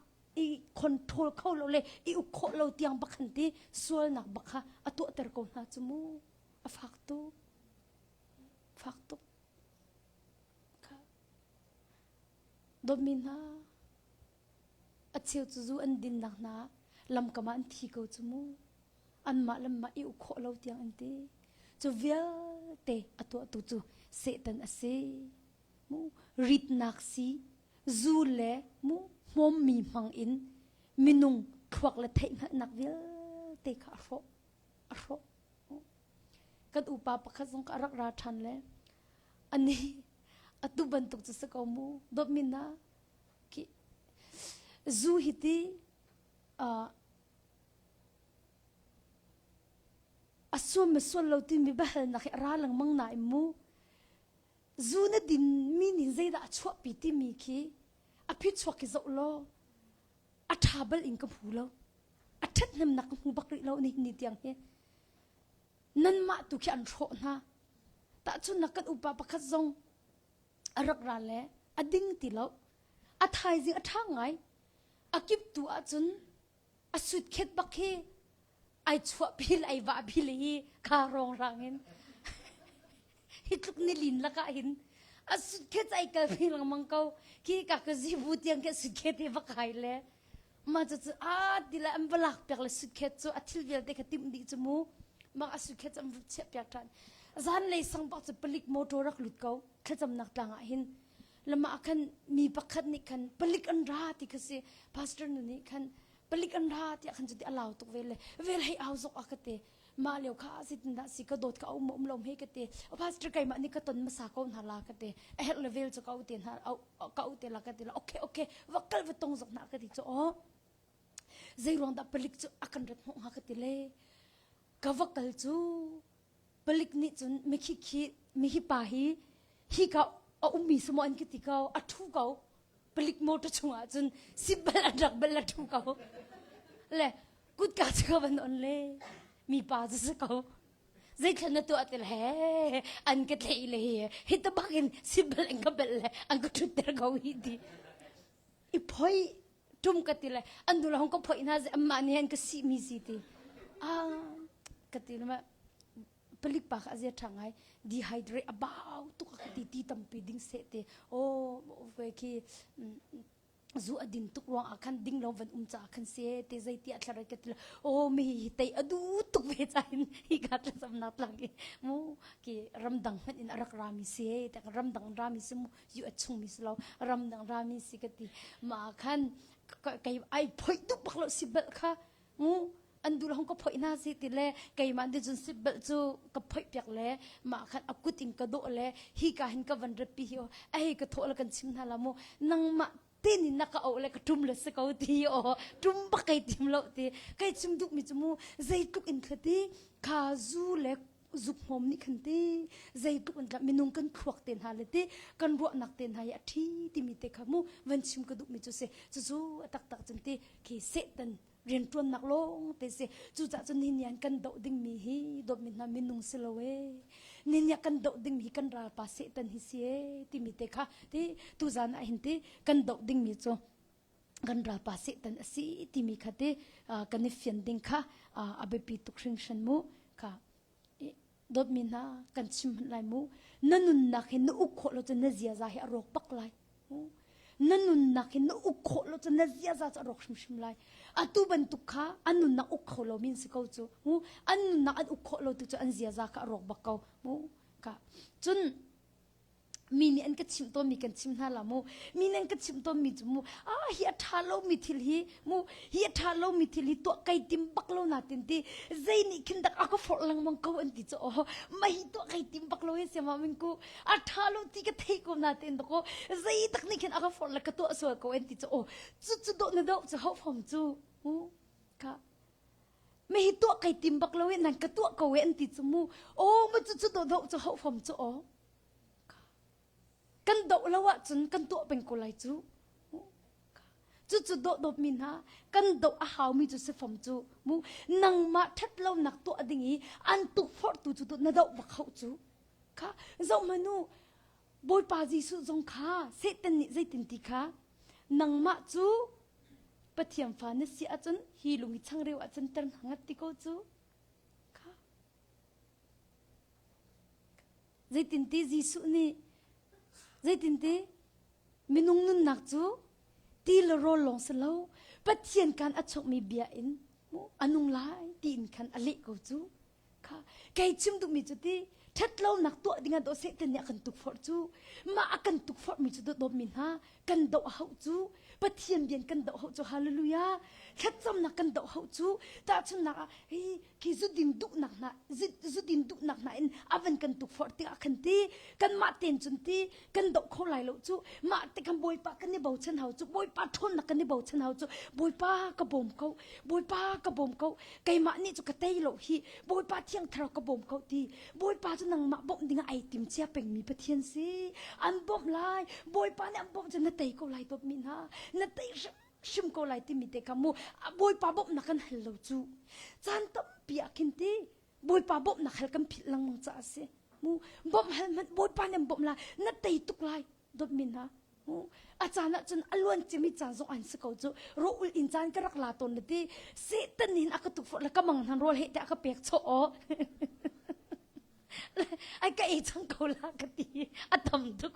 S1: i control kho lo le i uk khawh lo tiang bak han ti sualnak bak kha a tuahter ko hna cu mu a fak tu fak tuk kha dawtmi hna a cheu cu zu an dinnak hna lamkam ah an thi ko cu mu anmah lamma i uk khawh lo tiang an ti cu vialte a tuahtu cu Satan a si mu ritnak si Zuu le hmawmmi hmangin minung thluak le theihhngalhnak vialte kha a hrawh. A hrawh. Kan upa pakhat zong kha a rak ra ṭhan le a ni atu bantuk cu si ko mu dawtmin na ki zu hi ti uh, a suam me sual lo timi biahalnak hi a ra lengmang na im mu Zu na dinmi ning zeidah a chuahpi timi khi a phichuak hi zoh law a ṭha bal in ka hmu lo. A ṭhathnemnak ka hmu bak rih lo nihin ni tiang hi. Nanmah tu khi an hrawh hna. Tahcun na kan upa pakhat zong a rak ra le a ding ti lo. A thaizing a ṭha ngai. A kip tu ahcun a sut khet bak hi ai chuahpil ai vahpil i kha rawng in hi tluk nilin lakah hin a sut khe ai kalpi lengmang ko ki ka ka zibu tiang ke sut khe te va kai le ma cu cu a tila an va lak piak le sut khe cu a thil vialte ka tim di chu mu ma a sut khe chu am rup chiah piak ṭan zan lei sang pak cu palik motor rak lut ko thlacamnak tlang ah hin lama khan mi pakhat nih khan palik an ra ti kha si pastor nu nih khan palik an ra tiah khan cu ti a lau tuk vel le vel hei au zok a ka te ma leo kha asitindah si ka dawt ka um um lo he ka te a pastor keimah nih ka ton masa ko hna la ka te a her le vel cu ka u te hna ka u te la ka te la okay okay va kal va tong zok na ka ti cho o zeiruang dah palik cu a kan ret ho ha ka ti le ka va kal cu palik nih cun mikhi khi mihi pa hi hika a ummi samaw an ka ti ko a ṭhu ko palik motor chungah cun sit bel an rak bel a ṭhu ko le kutka cu ka van on le mipa cu si ko zeithlan na tuah til he an ka tlei le hi hi tabak in sit bel an ka bel le an ka ṭhutter ko hi ti i phoi tum ka ti le an dula hong ka phoih hna amah nih an ka si mi si ti a ka ti le palik pa a zia tha ngai dehydrate about tu ka ti ti tampi ding se te o khi zu a din tuk ruang ah khan ding lo van um ca khan se te zai ti a thlare ka tila o me hi tei adu tuk ve cha in hi ka tla sam na tlang ki mu ki ramdang han in arak rami se te ramdang rami se mu yu a chung mi si lo ram dang ra mi si ka ti ma khan kei ai phoi tuk bak lo si bel kha ngu an dul hong ka phoi na si ti le keimah di jun si bel cu ka phoi piak le ma khan akut in ka do le hi ka hin ka van repi hi o ai ka tho la kan chim na la mu nang ma tein na ka o le ka tum le se ko ti o tum ba kai tim lo ti kai chung duk mi chu mu zeitluk in khati kha zu le zuk hom ni khan ti zeitluk an minung kan thluak te hna le ti kan ruah nak te hna ya thi ti mi te kha mu van chim ka duk mi chu se chu chu atak tak chun ti khi setan riantuannak lawngte si cucah cu ninian kan doh dingmi hi dawtmi hna minung si lo e ninia kan doh dingmi kan ralpa setan hi si e timi te kha ti tuzan ah hin ti kan doh dingmi cu kan ralpa setan asi timi kha ti kan i fian ding kha a biapi tuk hringhran mu kha dawtmi hna kan chim hmanh lai mu na nunnak hi na uk khawh lo cun na ziaza hi a rawk bak lai na nunnak hi na uk khawh lo cun na ziaza cu a rawk hrimhrim lai atu bantuk kha an nunnak uk kho lo min si ko cu an nunnak an uk khawh lo tu cu an ziaza kha a rawk bak ko ka cun mi nih an ka chimh tawnmi kan chim hna la mu mi nih an ka chimh tawnmi cu mu ah hi a ṭha lomi thil hi mu hi a ṭha lomi thil hi tuah kai tim bak lo na tin ti zei nih khin dak a ka forh lengmang ko an ti cu oho ma hi tuah kai tim bak lo hi siama min ku a ṭha lo ti ka thei ko na tin dako zei tak nih khin a ka forh la ka tuah sual ko an ti cu o cu cu do na do cu ho fom cu u ka Mehi tuah kai tim bak lo i nan ka tuah ko e an ti cu mu. Aw ma cu cu doh cu hau fom cu aw. Kan doh lo ahcun kan tuah peng ko lai cu. Cu cu doh dawp mi hna kan doh a hau mi cu si fom cu mu nangmah ṭhat lo nak tuah ding i an tuk forhtu cu tu na doh bak hau cu. Kha zoh manu Bawipa Jesuh zong kha Satan nih zeitin ti kha nangmah cu Pathian fa na si ahcun hi lung i changreu ah canter hna ngat ti ko cu. Kha. Zeitinti Jesuh nih zeitinti minung nunnak cu ti le rawl lawng si lo Pathian kan a chuakmi bia in a nung lai tiin khan a leh ko cu. kha kei chim duhmi cu ti ṭhet lonak tuah dingah daw Satan nih a kan tukforh cu mah a kan tukforhmi cu dawtmi hna kan doh a hauh cu Pathian bian kan doh hauh cu hallelujah thlacamnak kan doh hauh cu tahchunnak ah hi khi zudin duhnak hna zudin duhnak hna in a van kan tukforh tiah a kan ti kanmah ten cun ti kan doh kho lai lo cu mah te kan bawipa kan i bochan hau cu bawipa ṭhawnnak kan i bochan hau cu bawipa ka bawm ko bawipa ka bawm ko keimah nih cu ka tei lo hi bawipa thiang thlarau ka bawm ko ti bawipa cu nangmah bawmh dingah ai tim cia pengmi pathian si an bawmh lai bawipa nih an bawmh cu na tei ko lai dawtmi hna na tei hrim ko lai timi te kha mu bawipa bawmhnak kan hal lo cu caan tampi ah khin ti Bawipa bawmhnak hal kan philh lengmang caah a si. Mu bawmh hal hmanh Bawipa nih an bawmh lai na tei tuk lai dawtmi hna. A caan ah cun a luan cimi caan zong an si ko cu. Ro ul in caan ka rak la tawn na ti. Satan in a ka tuk fort le ka mang hnan rawl he te a ka pek chaw o. Ai ka ei chang ko la ka ti. A tam tuk.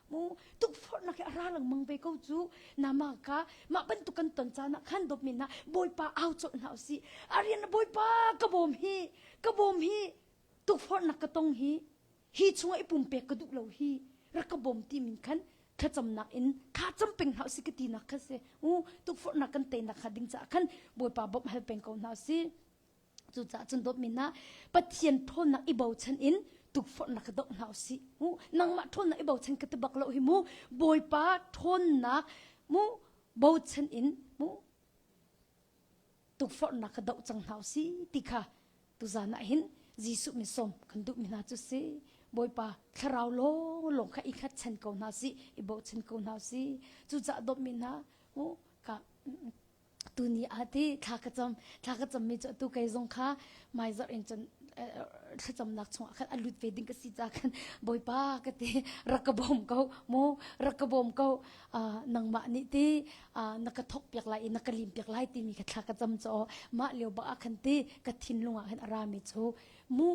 S1: mu tukforhnak hi a ra lengmang ve ko cu nama ka mah bantuk kan ton caan ah khan dop men na bawipa au cawlh hna usi arian bawipa ka bawm hi ka bawm hi tukforhnak ka tong hi hi chunga i pumpek ka duh lo hi rak ka bawm ti min khan thlacamnak in kha cham peng hna usi ka ti nak kha se u tukforhnak kan te nak kha ding ca khan bawipa bawm hal peng ko hna usi Cucaah cun dawtmi hna Pathian ṭhawnnak i bochan in tukforhnak ka doh hna u sih. Mu nangmah ṭhawnnak i bochan ka ti bak lo hi mu Bawipa ṭhawnnak mu bochan in mu tukforhnak ka doh cang hna u si ti kha tuzan ah hin Jesuh min sawm kan duhmi hna cu si Bawipa thlarau lawng lawng kha i khatchan ko hna si i bochan ko hna u si cucaah dawtmi hna mu ka tuni ah ti thla ka cam thla ka cam mi cu tu kei zong kha maizar in cun thlacamnak chung ah khan a lut ve ding ka si ca khan bawipa ka ti rak ka bawm ko mu rak ka bawm ko nangmah nih ti na ka thok piak lai i na ka lim piak lai timi ka thla ka cam chaw mah leo bak ah khan ti ka thinlung ah khan ara mi chu mu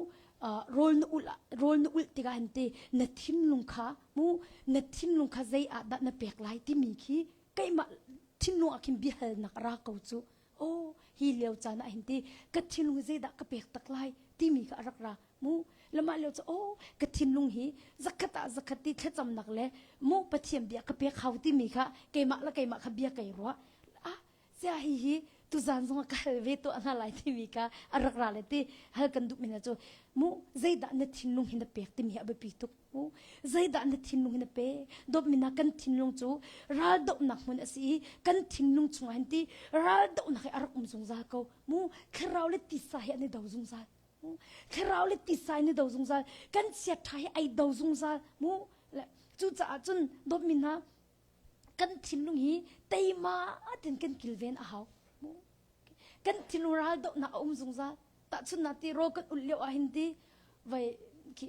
S1: rol na ul rol na ul tiga han ti na thinlung kha mu na thinlung kha zei ah dah na pek lai timi khi keimah thinlung ah khin biahalnak a ra ko cu aw hi lio caan ah hin ti ka thinlung zeidah ka pek tak lai timi kha a rak ra mu lamah lio cu aw ka thinlung hi zakhat ah zakhat ti thlacamnak le mu pathian bia ka pek hau timi kha keimah le keimah kha bia kai ruah ah sia hi hi tuzan zong ka hal ve to hna lai timi ka a rak ra le ti hal kan duh mina cu mu zeidah na thinlung hi na pek timi a biapi tuk hmu. Zeidah na thinlung in a pe? Dawpminak kan thinlung cu raldohnak hmun a si i kan thinlung chungah hin ti raldohnak he a rak um zungzal ko. Mu thlarau le tisa he an i do zungzal. Mu thlarau le tisa in i do zungzal. Kan chiaṭha he ai do zungzal. Mu le cucaah cun dawpmi hna kan thinlung hi teima tein kan kilven a hau. Kan thinlung ral dohnak a um zungzal. Tahchun na ti ro kan ul lio ah hin ti vai khi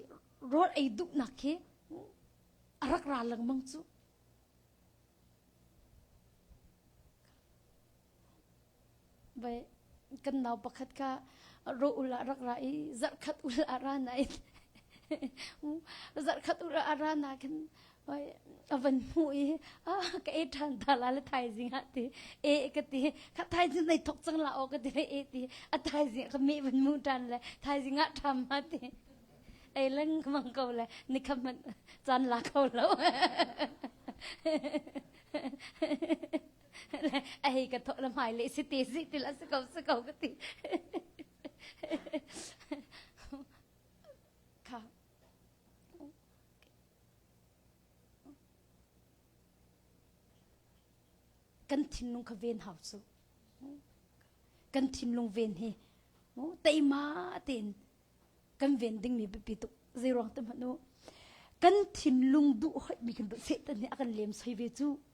S1: rol ei duhnak khi a rak ra lengmang cu. Vai kan nau pakhat ka ro ul ah rak ra i zarhkhat ul a ra nain zarhkhat ul a ra nakin hoi a van hmu i a ka e ṭhan ta la le thaizing ah ti e ka ti kha thaizing nei thok cang la aw ka ti le e ti a thaizing ka me van mu ṭan le thaizing ah ṭham ma ti ei leng ka mang ko le ni kha man chan la kho lo ei ka thawh la mai le si ti si ti la si ko si ko ka ti kha kan thinlung kha ven hau su kan thinlung ven hi teima tein kan ven ding mi bipi tu zeirong te manu kan thinlung du hoi mi kan du setan ni akan lem soi ve chu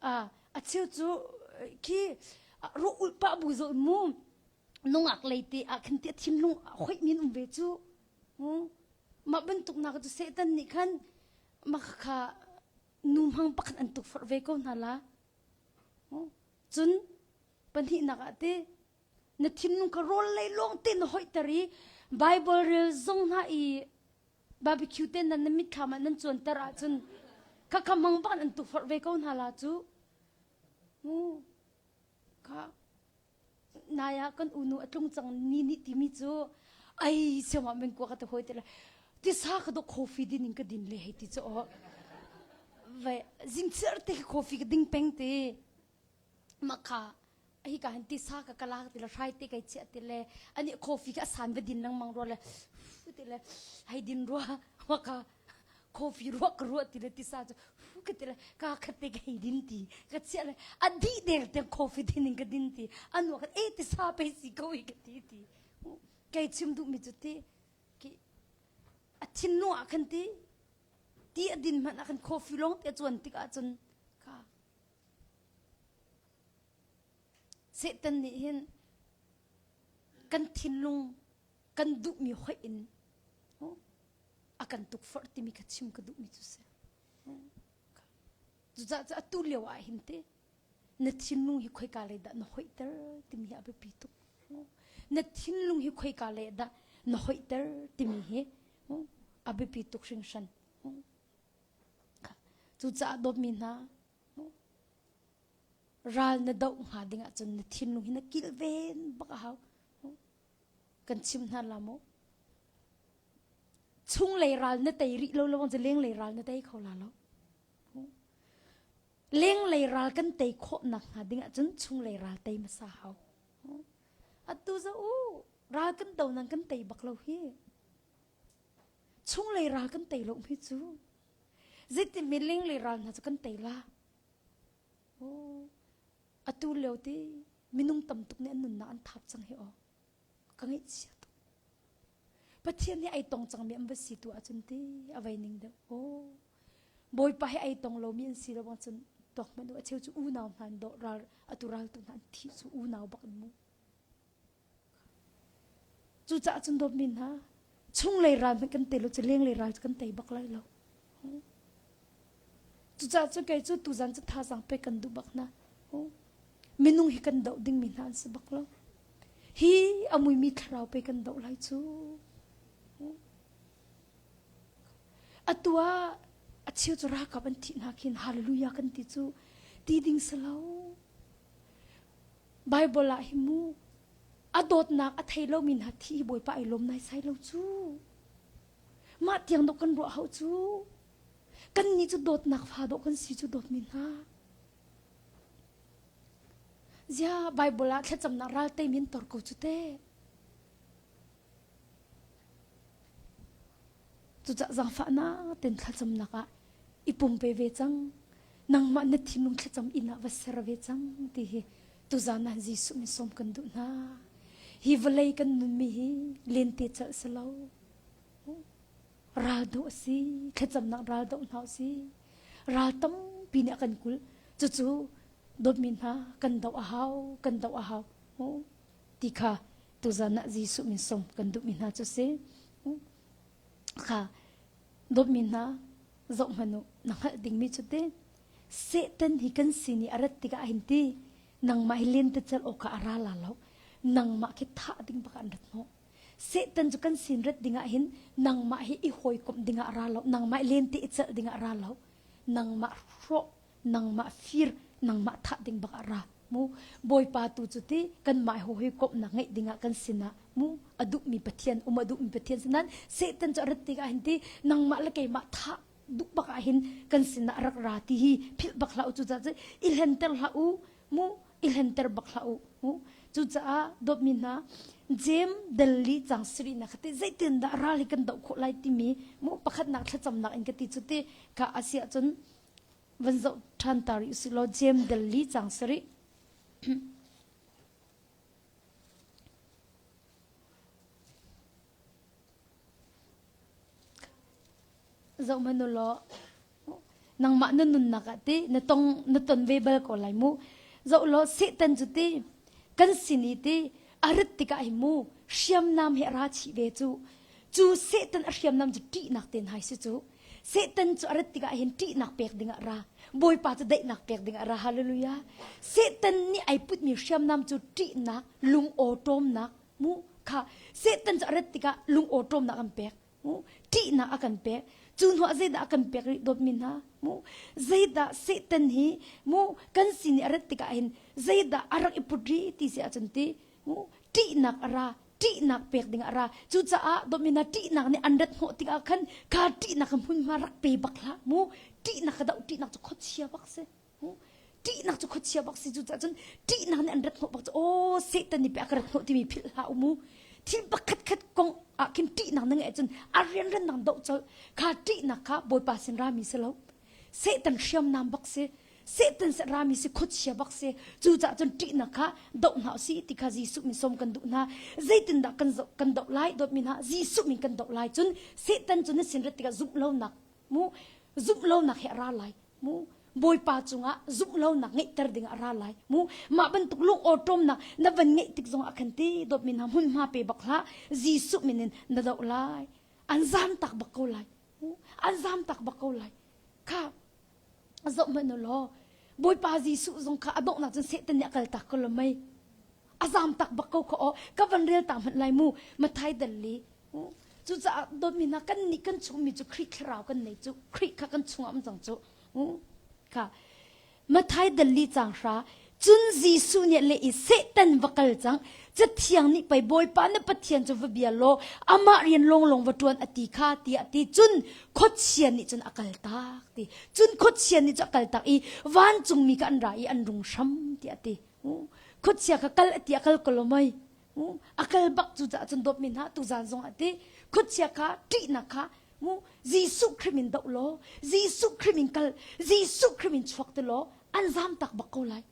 S1: a acheu cu khi ru ulh pah bu zol mu nungak lei te ah khan tia thim lung hoih min um ve cu mah bantuk na cu setan nih khan makhakha nu hmang pakhat an tuk far ve ko hna la cun pahnih nak ah te na thim nung ka rawl lei lawng te na hoih ter i bible rel zong hna i Barbecue te nan na mitthlam ah nan cuanter ahcun kha kha mangban an tufar ve ko hna la cu. Mu kha nai ah kan unu a tlung cang ni nih timi cu ai siangah men kua ka te hoi te la tisa ka do coffee din in ka din le hei ti cu aw ve zingchir te coffee ka ding peng te Makha hika hin tisa ka ka lak ti le hrai te kai chiah ti le ani coffee ka san va din lengmang rua le ti le hei din rua maka coffee ruak ka ruah ti le tisa cu ka ti le ka khat te ka hei din ti ka chiah le a dih deng te coffee din in ka din ti anu khat e tisa pei si ko hi ka ti ti kai chim duh mi cu ti ki a thin no ah khan ti ti a din hmanh ah khan coffee long te chuan tik ah cun ka Satan nih hin kan thinlung kan duhmi hoih in a kan tukforh timi kha chim ka duhmi cu si. Cucaah atu lio ah hin te na thinlung hi khoika lei dah na hoihter timi hi a biapi tuk. Na thinlung hi khoika lei dah na hoihter timi hi a biapi tuk hringhran. Cucaah dawtmi hna, ral na doh hnga ding ahcun na thinlung hi na kilven bak a hau. Kan chim hna la maw? Chunglei ral na tei rih lo lawng cu lenglei ral na tei kho la lo. Lenglei ral kan tei khawhnak hnga ding ahcun chunglei ral tei hmasa hau. Atu za u, ral kan do nang kan tei bak lo hi. Chunglei ral kan tei lo mi cu zeiti miling le ral hna cu kan tei la. Aw, atu lio ti minung tam tuk nih an nunnak an thap cang hi aw. Ka ngaihchia tuk. Pathian nih ai tong cangmi an va si tu ahcun ti a vei ning deuh. Aw, Bawipa he ai tong lomi an si lo ahcun tuak hmanh u a cheu cu unau hna an dawh ral atu raltu hna an thih cu unau bak an mu. Cucaah cun dawt mi hna, chunglei ral hmanh kan tei lo cu lenglei ral cu kan tei bak lai lo. Cucaah cu kei cu tuzan cu thazaang pek kan duh bak hna. Minung hi kan doh dingmi hna an si bak lo. Hi a muimi thlarau pe kan doh lai cu. Atu ah a cheu cu ralkap an thih hna khin hallelujah kan ti cu ti ding si lo. Baibal ah hi mu, a dawtnak a thei lomi hna thi hi Bawipa ai lawm naisai lo cu. Mah tiang dawh kan ruah hau cu. Kannih cu dawtnak fa dawh kan si cu dawtmi hna. Zia Baibal ah thlacamnak ral tei min tor ko cu te. Cucah zaangfahnak ten thlacamnak ah i pumpe ve cang. Nangmah na thinlung thlacam inn ah va ser ve cang ti hi tuzan ah Jesuh min sawm kan duh hna. Hi vawlei kan nunmi hi lente calh si lo. Ral doh si, thlacamnak ral doh hna si. Ral tampi nih a kan kulh. Cucu dawtmi hna kan doh a hau, kan doh a hau. Ti kha Tuzan ah Jesuh min song kan duhmi hna cu si. Kha dawtmi hna zoh hmanu na hngalh dingmi cu te Satan hi kan sin i a rat tikah a hin ti nangmah hi len te chal awk a ra la lo nangmah khi thah ding bak an rat hnawh Satan cu kan sin rat dingah hin nangmah hi i hawikomh dingah ra lo nangmah len te i chal dingah ra lo nangmah hrawh nangmah fir nangmah thah ding bak ah ra mu bawipa tu cu ti kanmah ho hi komhnak ngeih ding ah kan sinah mu a duhmi pathian um a duhmi pathian sinan satan cu rat tik ah hin ti nangmah le keimah thah duh bak ah hin kan sinah rak ra ti hi philh bak hlah u cu caah i hlenter hlah u mu i hlenter bak hlah u mu cucaah dawtmi hna Jem Delhi chang siri na khati zeitin dah ral hi kan do kho lai timi mu pakhatnak thlacamnak in kati cu ti ka asia chun van zoh ṭhan ta rih usih law Jem Dal li cang si rih. zoh manu law nangmah na nunnak ah ti na tong na ton ve bal ko lai mu zoh law setan cu ti kan sini ti a rit tikah hi mu hriamnam he ra chi ve cu Cu Satan a hriamnam cu ṭihnak te hna hi si cu. Satan cu a rat tikah hin ṭihnak pek dingah ra, Bawipa cu daihnak pek dingah ra, hallelujah. Satan nih ai putmi hriamnam cu ṭihnak, lungaw ṭawmnak, mu kha Satan cu a rat tikah lungaw ṭawmnak an pek, mu ṭihnak a kan pek. Cu hnuah zeidah a kan pek rih dawtmi hna, mu zeidah Satan hi mu kan sin i a rat tikah hin zeidah a rak i put rih ti si ahcun ti ṭihnak a ra ṭihnak pek ding a ra cucaah Domina ṭihnak nih an rat hnawh tikah khan kha ṭihnak ka hmunhma rak pe bak hlah mu ṭihnak ka doh ṭihnak cu khuachia bak si ṭihnak cu khuachia bak si cucaah cun ṭihnak nih an rat hnawh bak cu aw Satan nih peh a ka rat hnawh timi philh hlah u mu thil pakhat khat kong ah khin ṭihnak na ngeih ahcun a rianran nang doh colh kha ṭihnak kha Bawipa sin rami si lo Satan hriamnam bak si Satan se rami si khuachia bak si cucaah cun ṭihnak kha doh hna si ti kha Jesuh min som kan duh hna zeitindah kan zoh kan doh lai dawtmi hna Jesuh min kan doh lai cun Satan cu na sinrat tikah zumh lonak mu zumh lonak he a ra lai mu Bawipa cungah zumh lonak ngeihter dingah a ra lai mu mah bantuk lungawṭawmnak na van ngeih tik zong a kan ti dawtmi hna hmunhma pe bak hlah Jesuh min in na doh lai an zan tak bak ko lai an zam tak bak ko lai kha zoh hmanh law bawipa jesuh zong kha a donghnak cun setan nih a kal tak ko lo mei a zam tak bak ko kha aw ka van rel ta hmanh lai mu mathai dalli cucaah dawtmi hna kan nih kan chungmi cu khrih thlarau kan nei cu khrih kha kan chungah um cang cu kha Mathai dali cang hra cun Jesuh nih le i Satan va kal cang cathiang nih pei Bawipa na Pathian cu va bia law amah rian lawnglawng va ṭuan a ti kha tiah ti cun khuachia nih cun a kal tak ti cun khuachia nih cu a kal tak i vancungmi kha an ra i an rung hram tiah ti khuachia kha kal a ti a kal ko lo mei mu a kal bak cu caah cun dawpmi hna tuzan zong ah ti khuachia kha ṭihnak kha mu Jesuh Krim in doh law Jesuh Krim in kal Jesuh Krim in chuak ti law an zam tak bak ko lai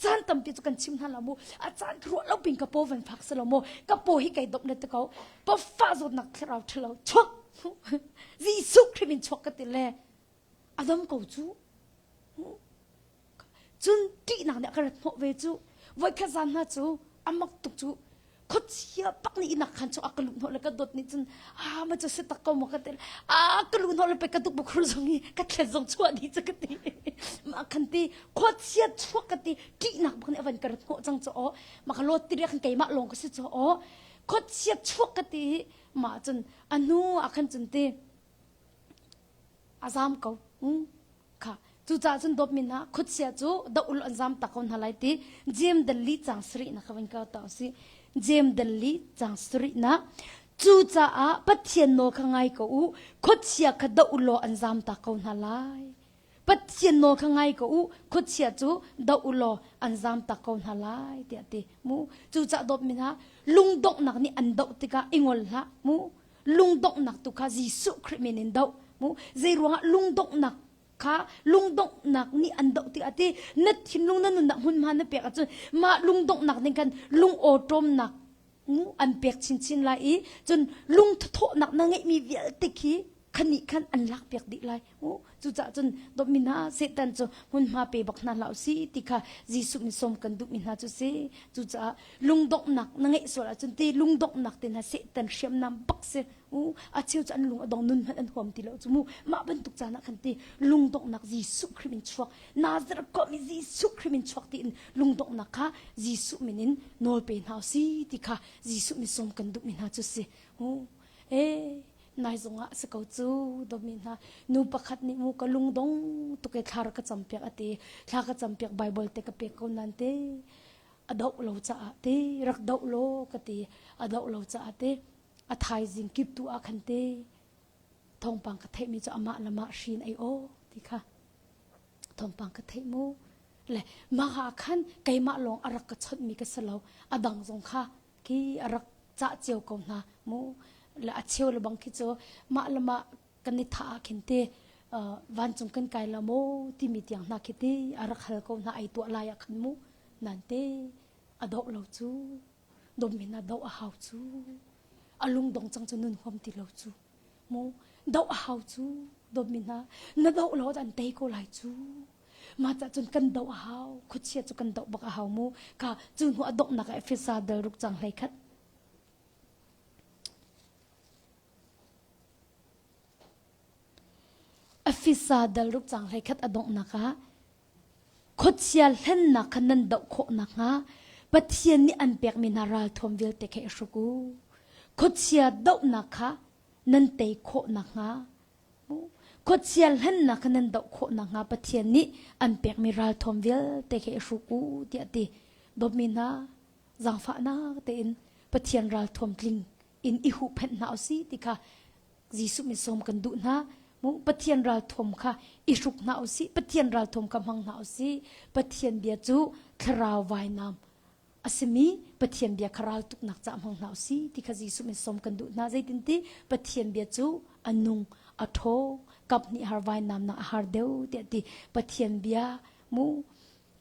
S1: caan tampi cu kan chim hna lo mu a caan ka ruah lo pin ka paw van phak si lo mu ka paw hi kai dop le te ko pa fa zawt nak thlarau ṭhalo chuak Jesuh Krim in chuak ka ti le a dam ko cu cun ṭihnak nih a ka rat hnawh ve cu voikhat zan hna cu a mak tuk cu khuachia pak nih inak khan cu a ka luh hnawh le ka dawt nih cun a ma cu si tak ko maw ka ti a ka luh hnawh le pei ka duk bukhur zong i ka thlet zong chuah dih cu ka ti ma khan ti khuachia chuak ka ti ṭihnak bak nih a van ka rat hnawh cang cu aw ma ka lawt tiriak khan keimah lawng ka si cu aw khuachia chuak ka ti ma cun a hnu a khan cun ti A zam ko kha. Cucaah cun dawtmin ah khutsia cu doh ul an zam ta ko hna lai ti Jem Danli cang sarih na ka vin ko ta si. Jem Danli cang sarih na. Cucaah Pathian nawl kha ngai ko u khutsia kha doh ulaw an zam ta ko hna lai. Pathian nawl kha ngai ko u khutsia cu doh ulaw an zam ta ko hna lai tiah ti mu. Cucaah dawtmin ah lungdonghnak nih an doh tikah i ngol hlah mu. lungdonghnak tu kha Jesuh Khrih min in doh mu zei ruangah lungdonghnak kha lungdonghnak nih an doh tiah a ti na thinlung na nunnak hmunhma na pek ahcun mah lungdonghnak ning khan lungawṭawmnak an pek chinchin lai i cun lungthuthawhnak na ngeihmi vialte khi khanih khan an lak piak dih lai hmu cucaah cun dawtmi hna Satan cu hmunhma pe bak hna hlah si ti kha Jesuh min sawm kan duhmi hna cu si cucaah lungdonghnak na ngeih sual ahcun ti lungdonghnak te hna Satan hriamnam bak si u a cheu cu an lung a dong nun hmanh an huam ti lo cu mu mah bantuk caan ah khan ti lungdonghnak Jesuh Khrih min chuak Nazareth komi Jesuh Khrih min chuak tiin lungdonghnak kha Jesuh min in nawl pe hna si ti kha Jesuh min sawm kan duhmi hna cu si u e nai zongah a si ko cu domi hna nu pakhat nih mu ka lungdong tuk e thla ka campiak ati thla ka campiak bible te ka pek ko nan te ado lo caah te rak do lo ka ti ado lo caah te a thaizing kip tu a khan te thongpang ka theimi cu amah lama shin ai o ti kha thongpang ka thei mu le ma ha khan keimah lawng arak ka chonmi ka selo adang zong kha ki a rak cah cio ko hna mu la a cheu le bang khi cu mah le mah kan i tha ah khin te vancung kan kai la mo timi tiang hna khi ti a rak hal ko hna ai tuah lai ah khan mu nan te a do lo cu dom in a do a hau cu a lung dong chang cu nun huam ti lo cu mu do a hau cu dom in na do lo dan tei ko lai cu Mah cah cun kan doh a hau. Khuachia cu kan doh bak a hau mu. Ka cu hnu a donghnak ah Efesa dal ruk cang hlei khat. Efesa dal ruk cang hlei khat a donghnak ah khuachia hlennak kha nan doh khawh nakhnga Pathian nih an pekmi hna ralthuam vialte kha i hruk u. Khuachia dohnak kha nan tei khawh nakhnga Khuachia hlennak nan doh khawh nakhnga Pathian nih an pekmi ralthuam vialte khi i hruk u tiah ti dawtmi hna zaangfahnak tein Pathian ralthuam tling in i huhphenh hna u si ti kha Jesuh min sawm kan duh hna. Pathian ralthuam kha i hruk hna u si. Pathian ralthuam kha hmang hna u si. Pathian bia cu thlarau vainam a simi Pathian bia kha raltuknak caah hmang hna u si ti kha Jesuh min sawm kan duh hna zeitinti Pathian bia cu a nung a ṭhaw kap nih har vainam nak a har deuh tiah ti Pathian bia mu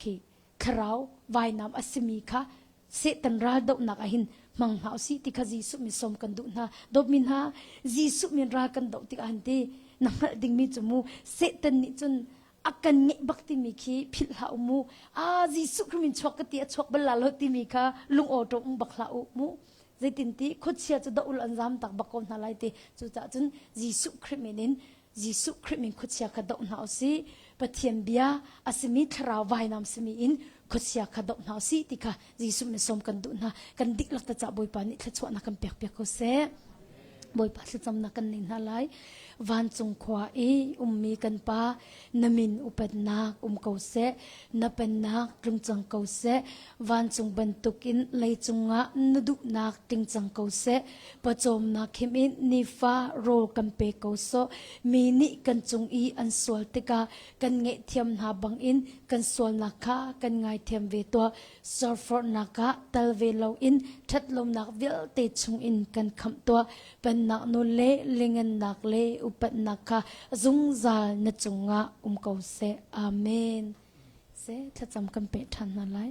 S1: khi thlarau vainam a simi kha Satan raldohnak ah hin hmang hna u si ti kha Jesuh min sawm kan duh hna dawtmi hna Jesuh min ral kan doh tikah han ti na hngalh dingmi cu mu Satan nih cun a kan ngeih bak timi khi philh hlah u mu ah Jesuh Khrih min chuak ka ti a chuak bal la lo timi kha lungawṭawm um bak hlah u mu zeitinti khuachia cu doul an zam tak bak ko hna lai ti cucaah cun Jesuh Khrih min in Jesuh Khrih min khuachia kha doh hna u si Pathian bia a simi thlarau vainam simi in khuachia kha doh hna u si ti kha Jesuh nih sawm kan duh hna kan diklak ta cah Bawipa nih thluachuahnak kan pek piak ko seh Bawipa thlacamnak kan nei hna lai vancung khua i ummi kan pa na min upatnak um ko seh na pennak tlungcang ko seh vancung bantukin lei cungah na duhnak tingcang ko seh pawcawmnak him in nifa rawl kan pe ko sawh mi nih kan cung i an sual tikah kan ngaihthiam hna bangin kan sualnak kha kan ngaithiam ve tuah. Surforhnak ah tal ve loin ṭhatlawmnak vialte chungin kan khamh tuah. Pennak nun le lingannak le upatnak kha zungzal na cungah um ko seh. Amen. Se thlacam kan peh ṭhan hna lai.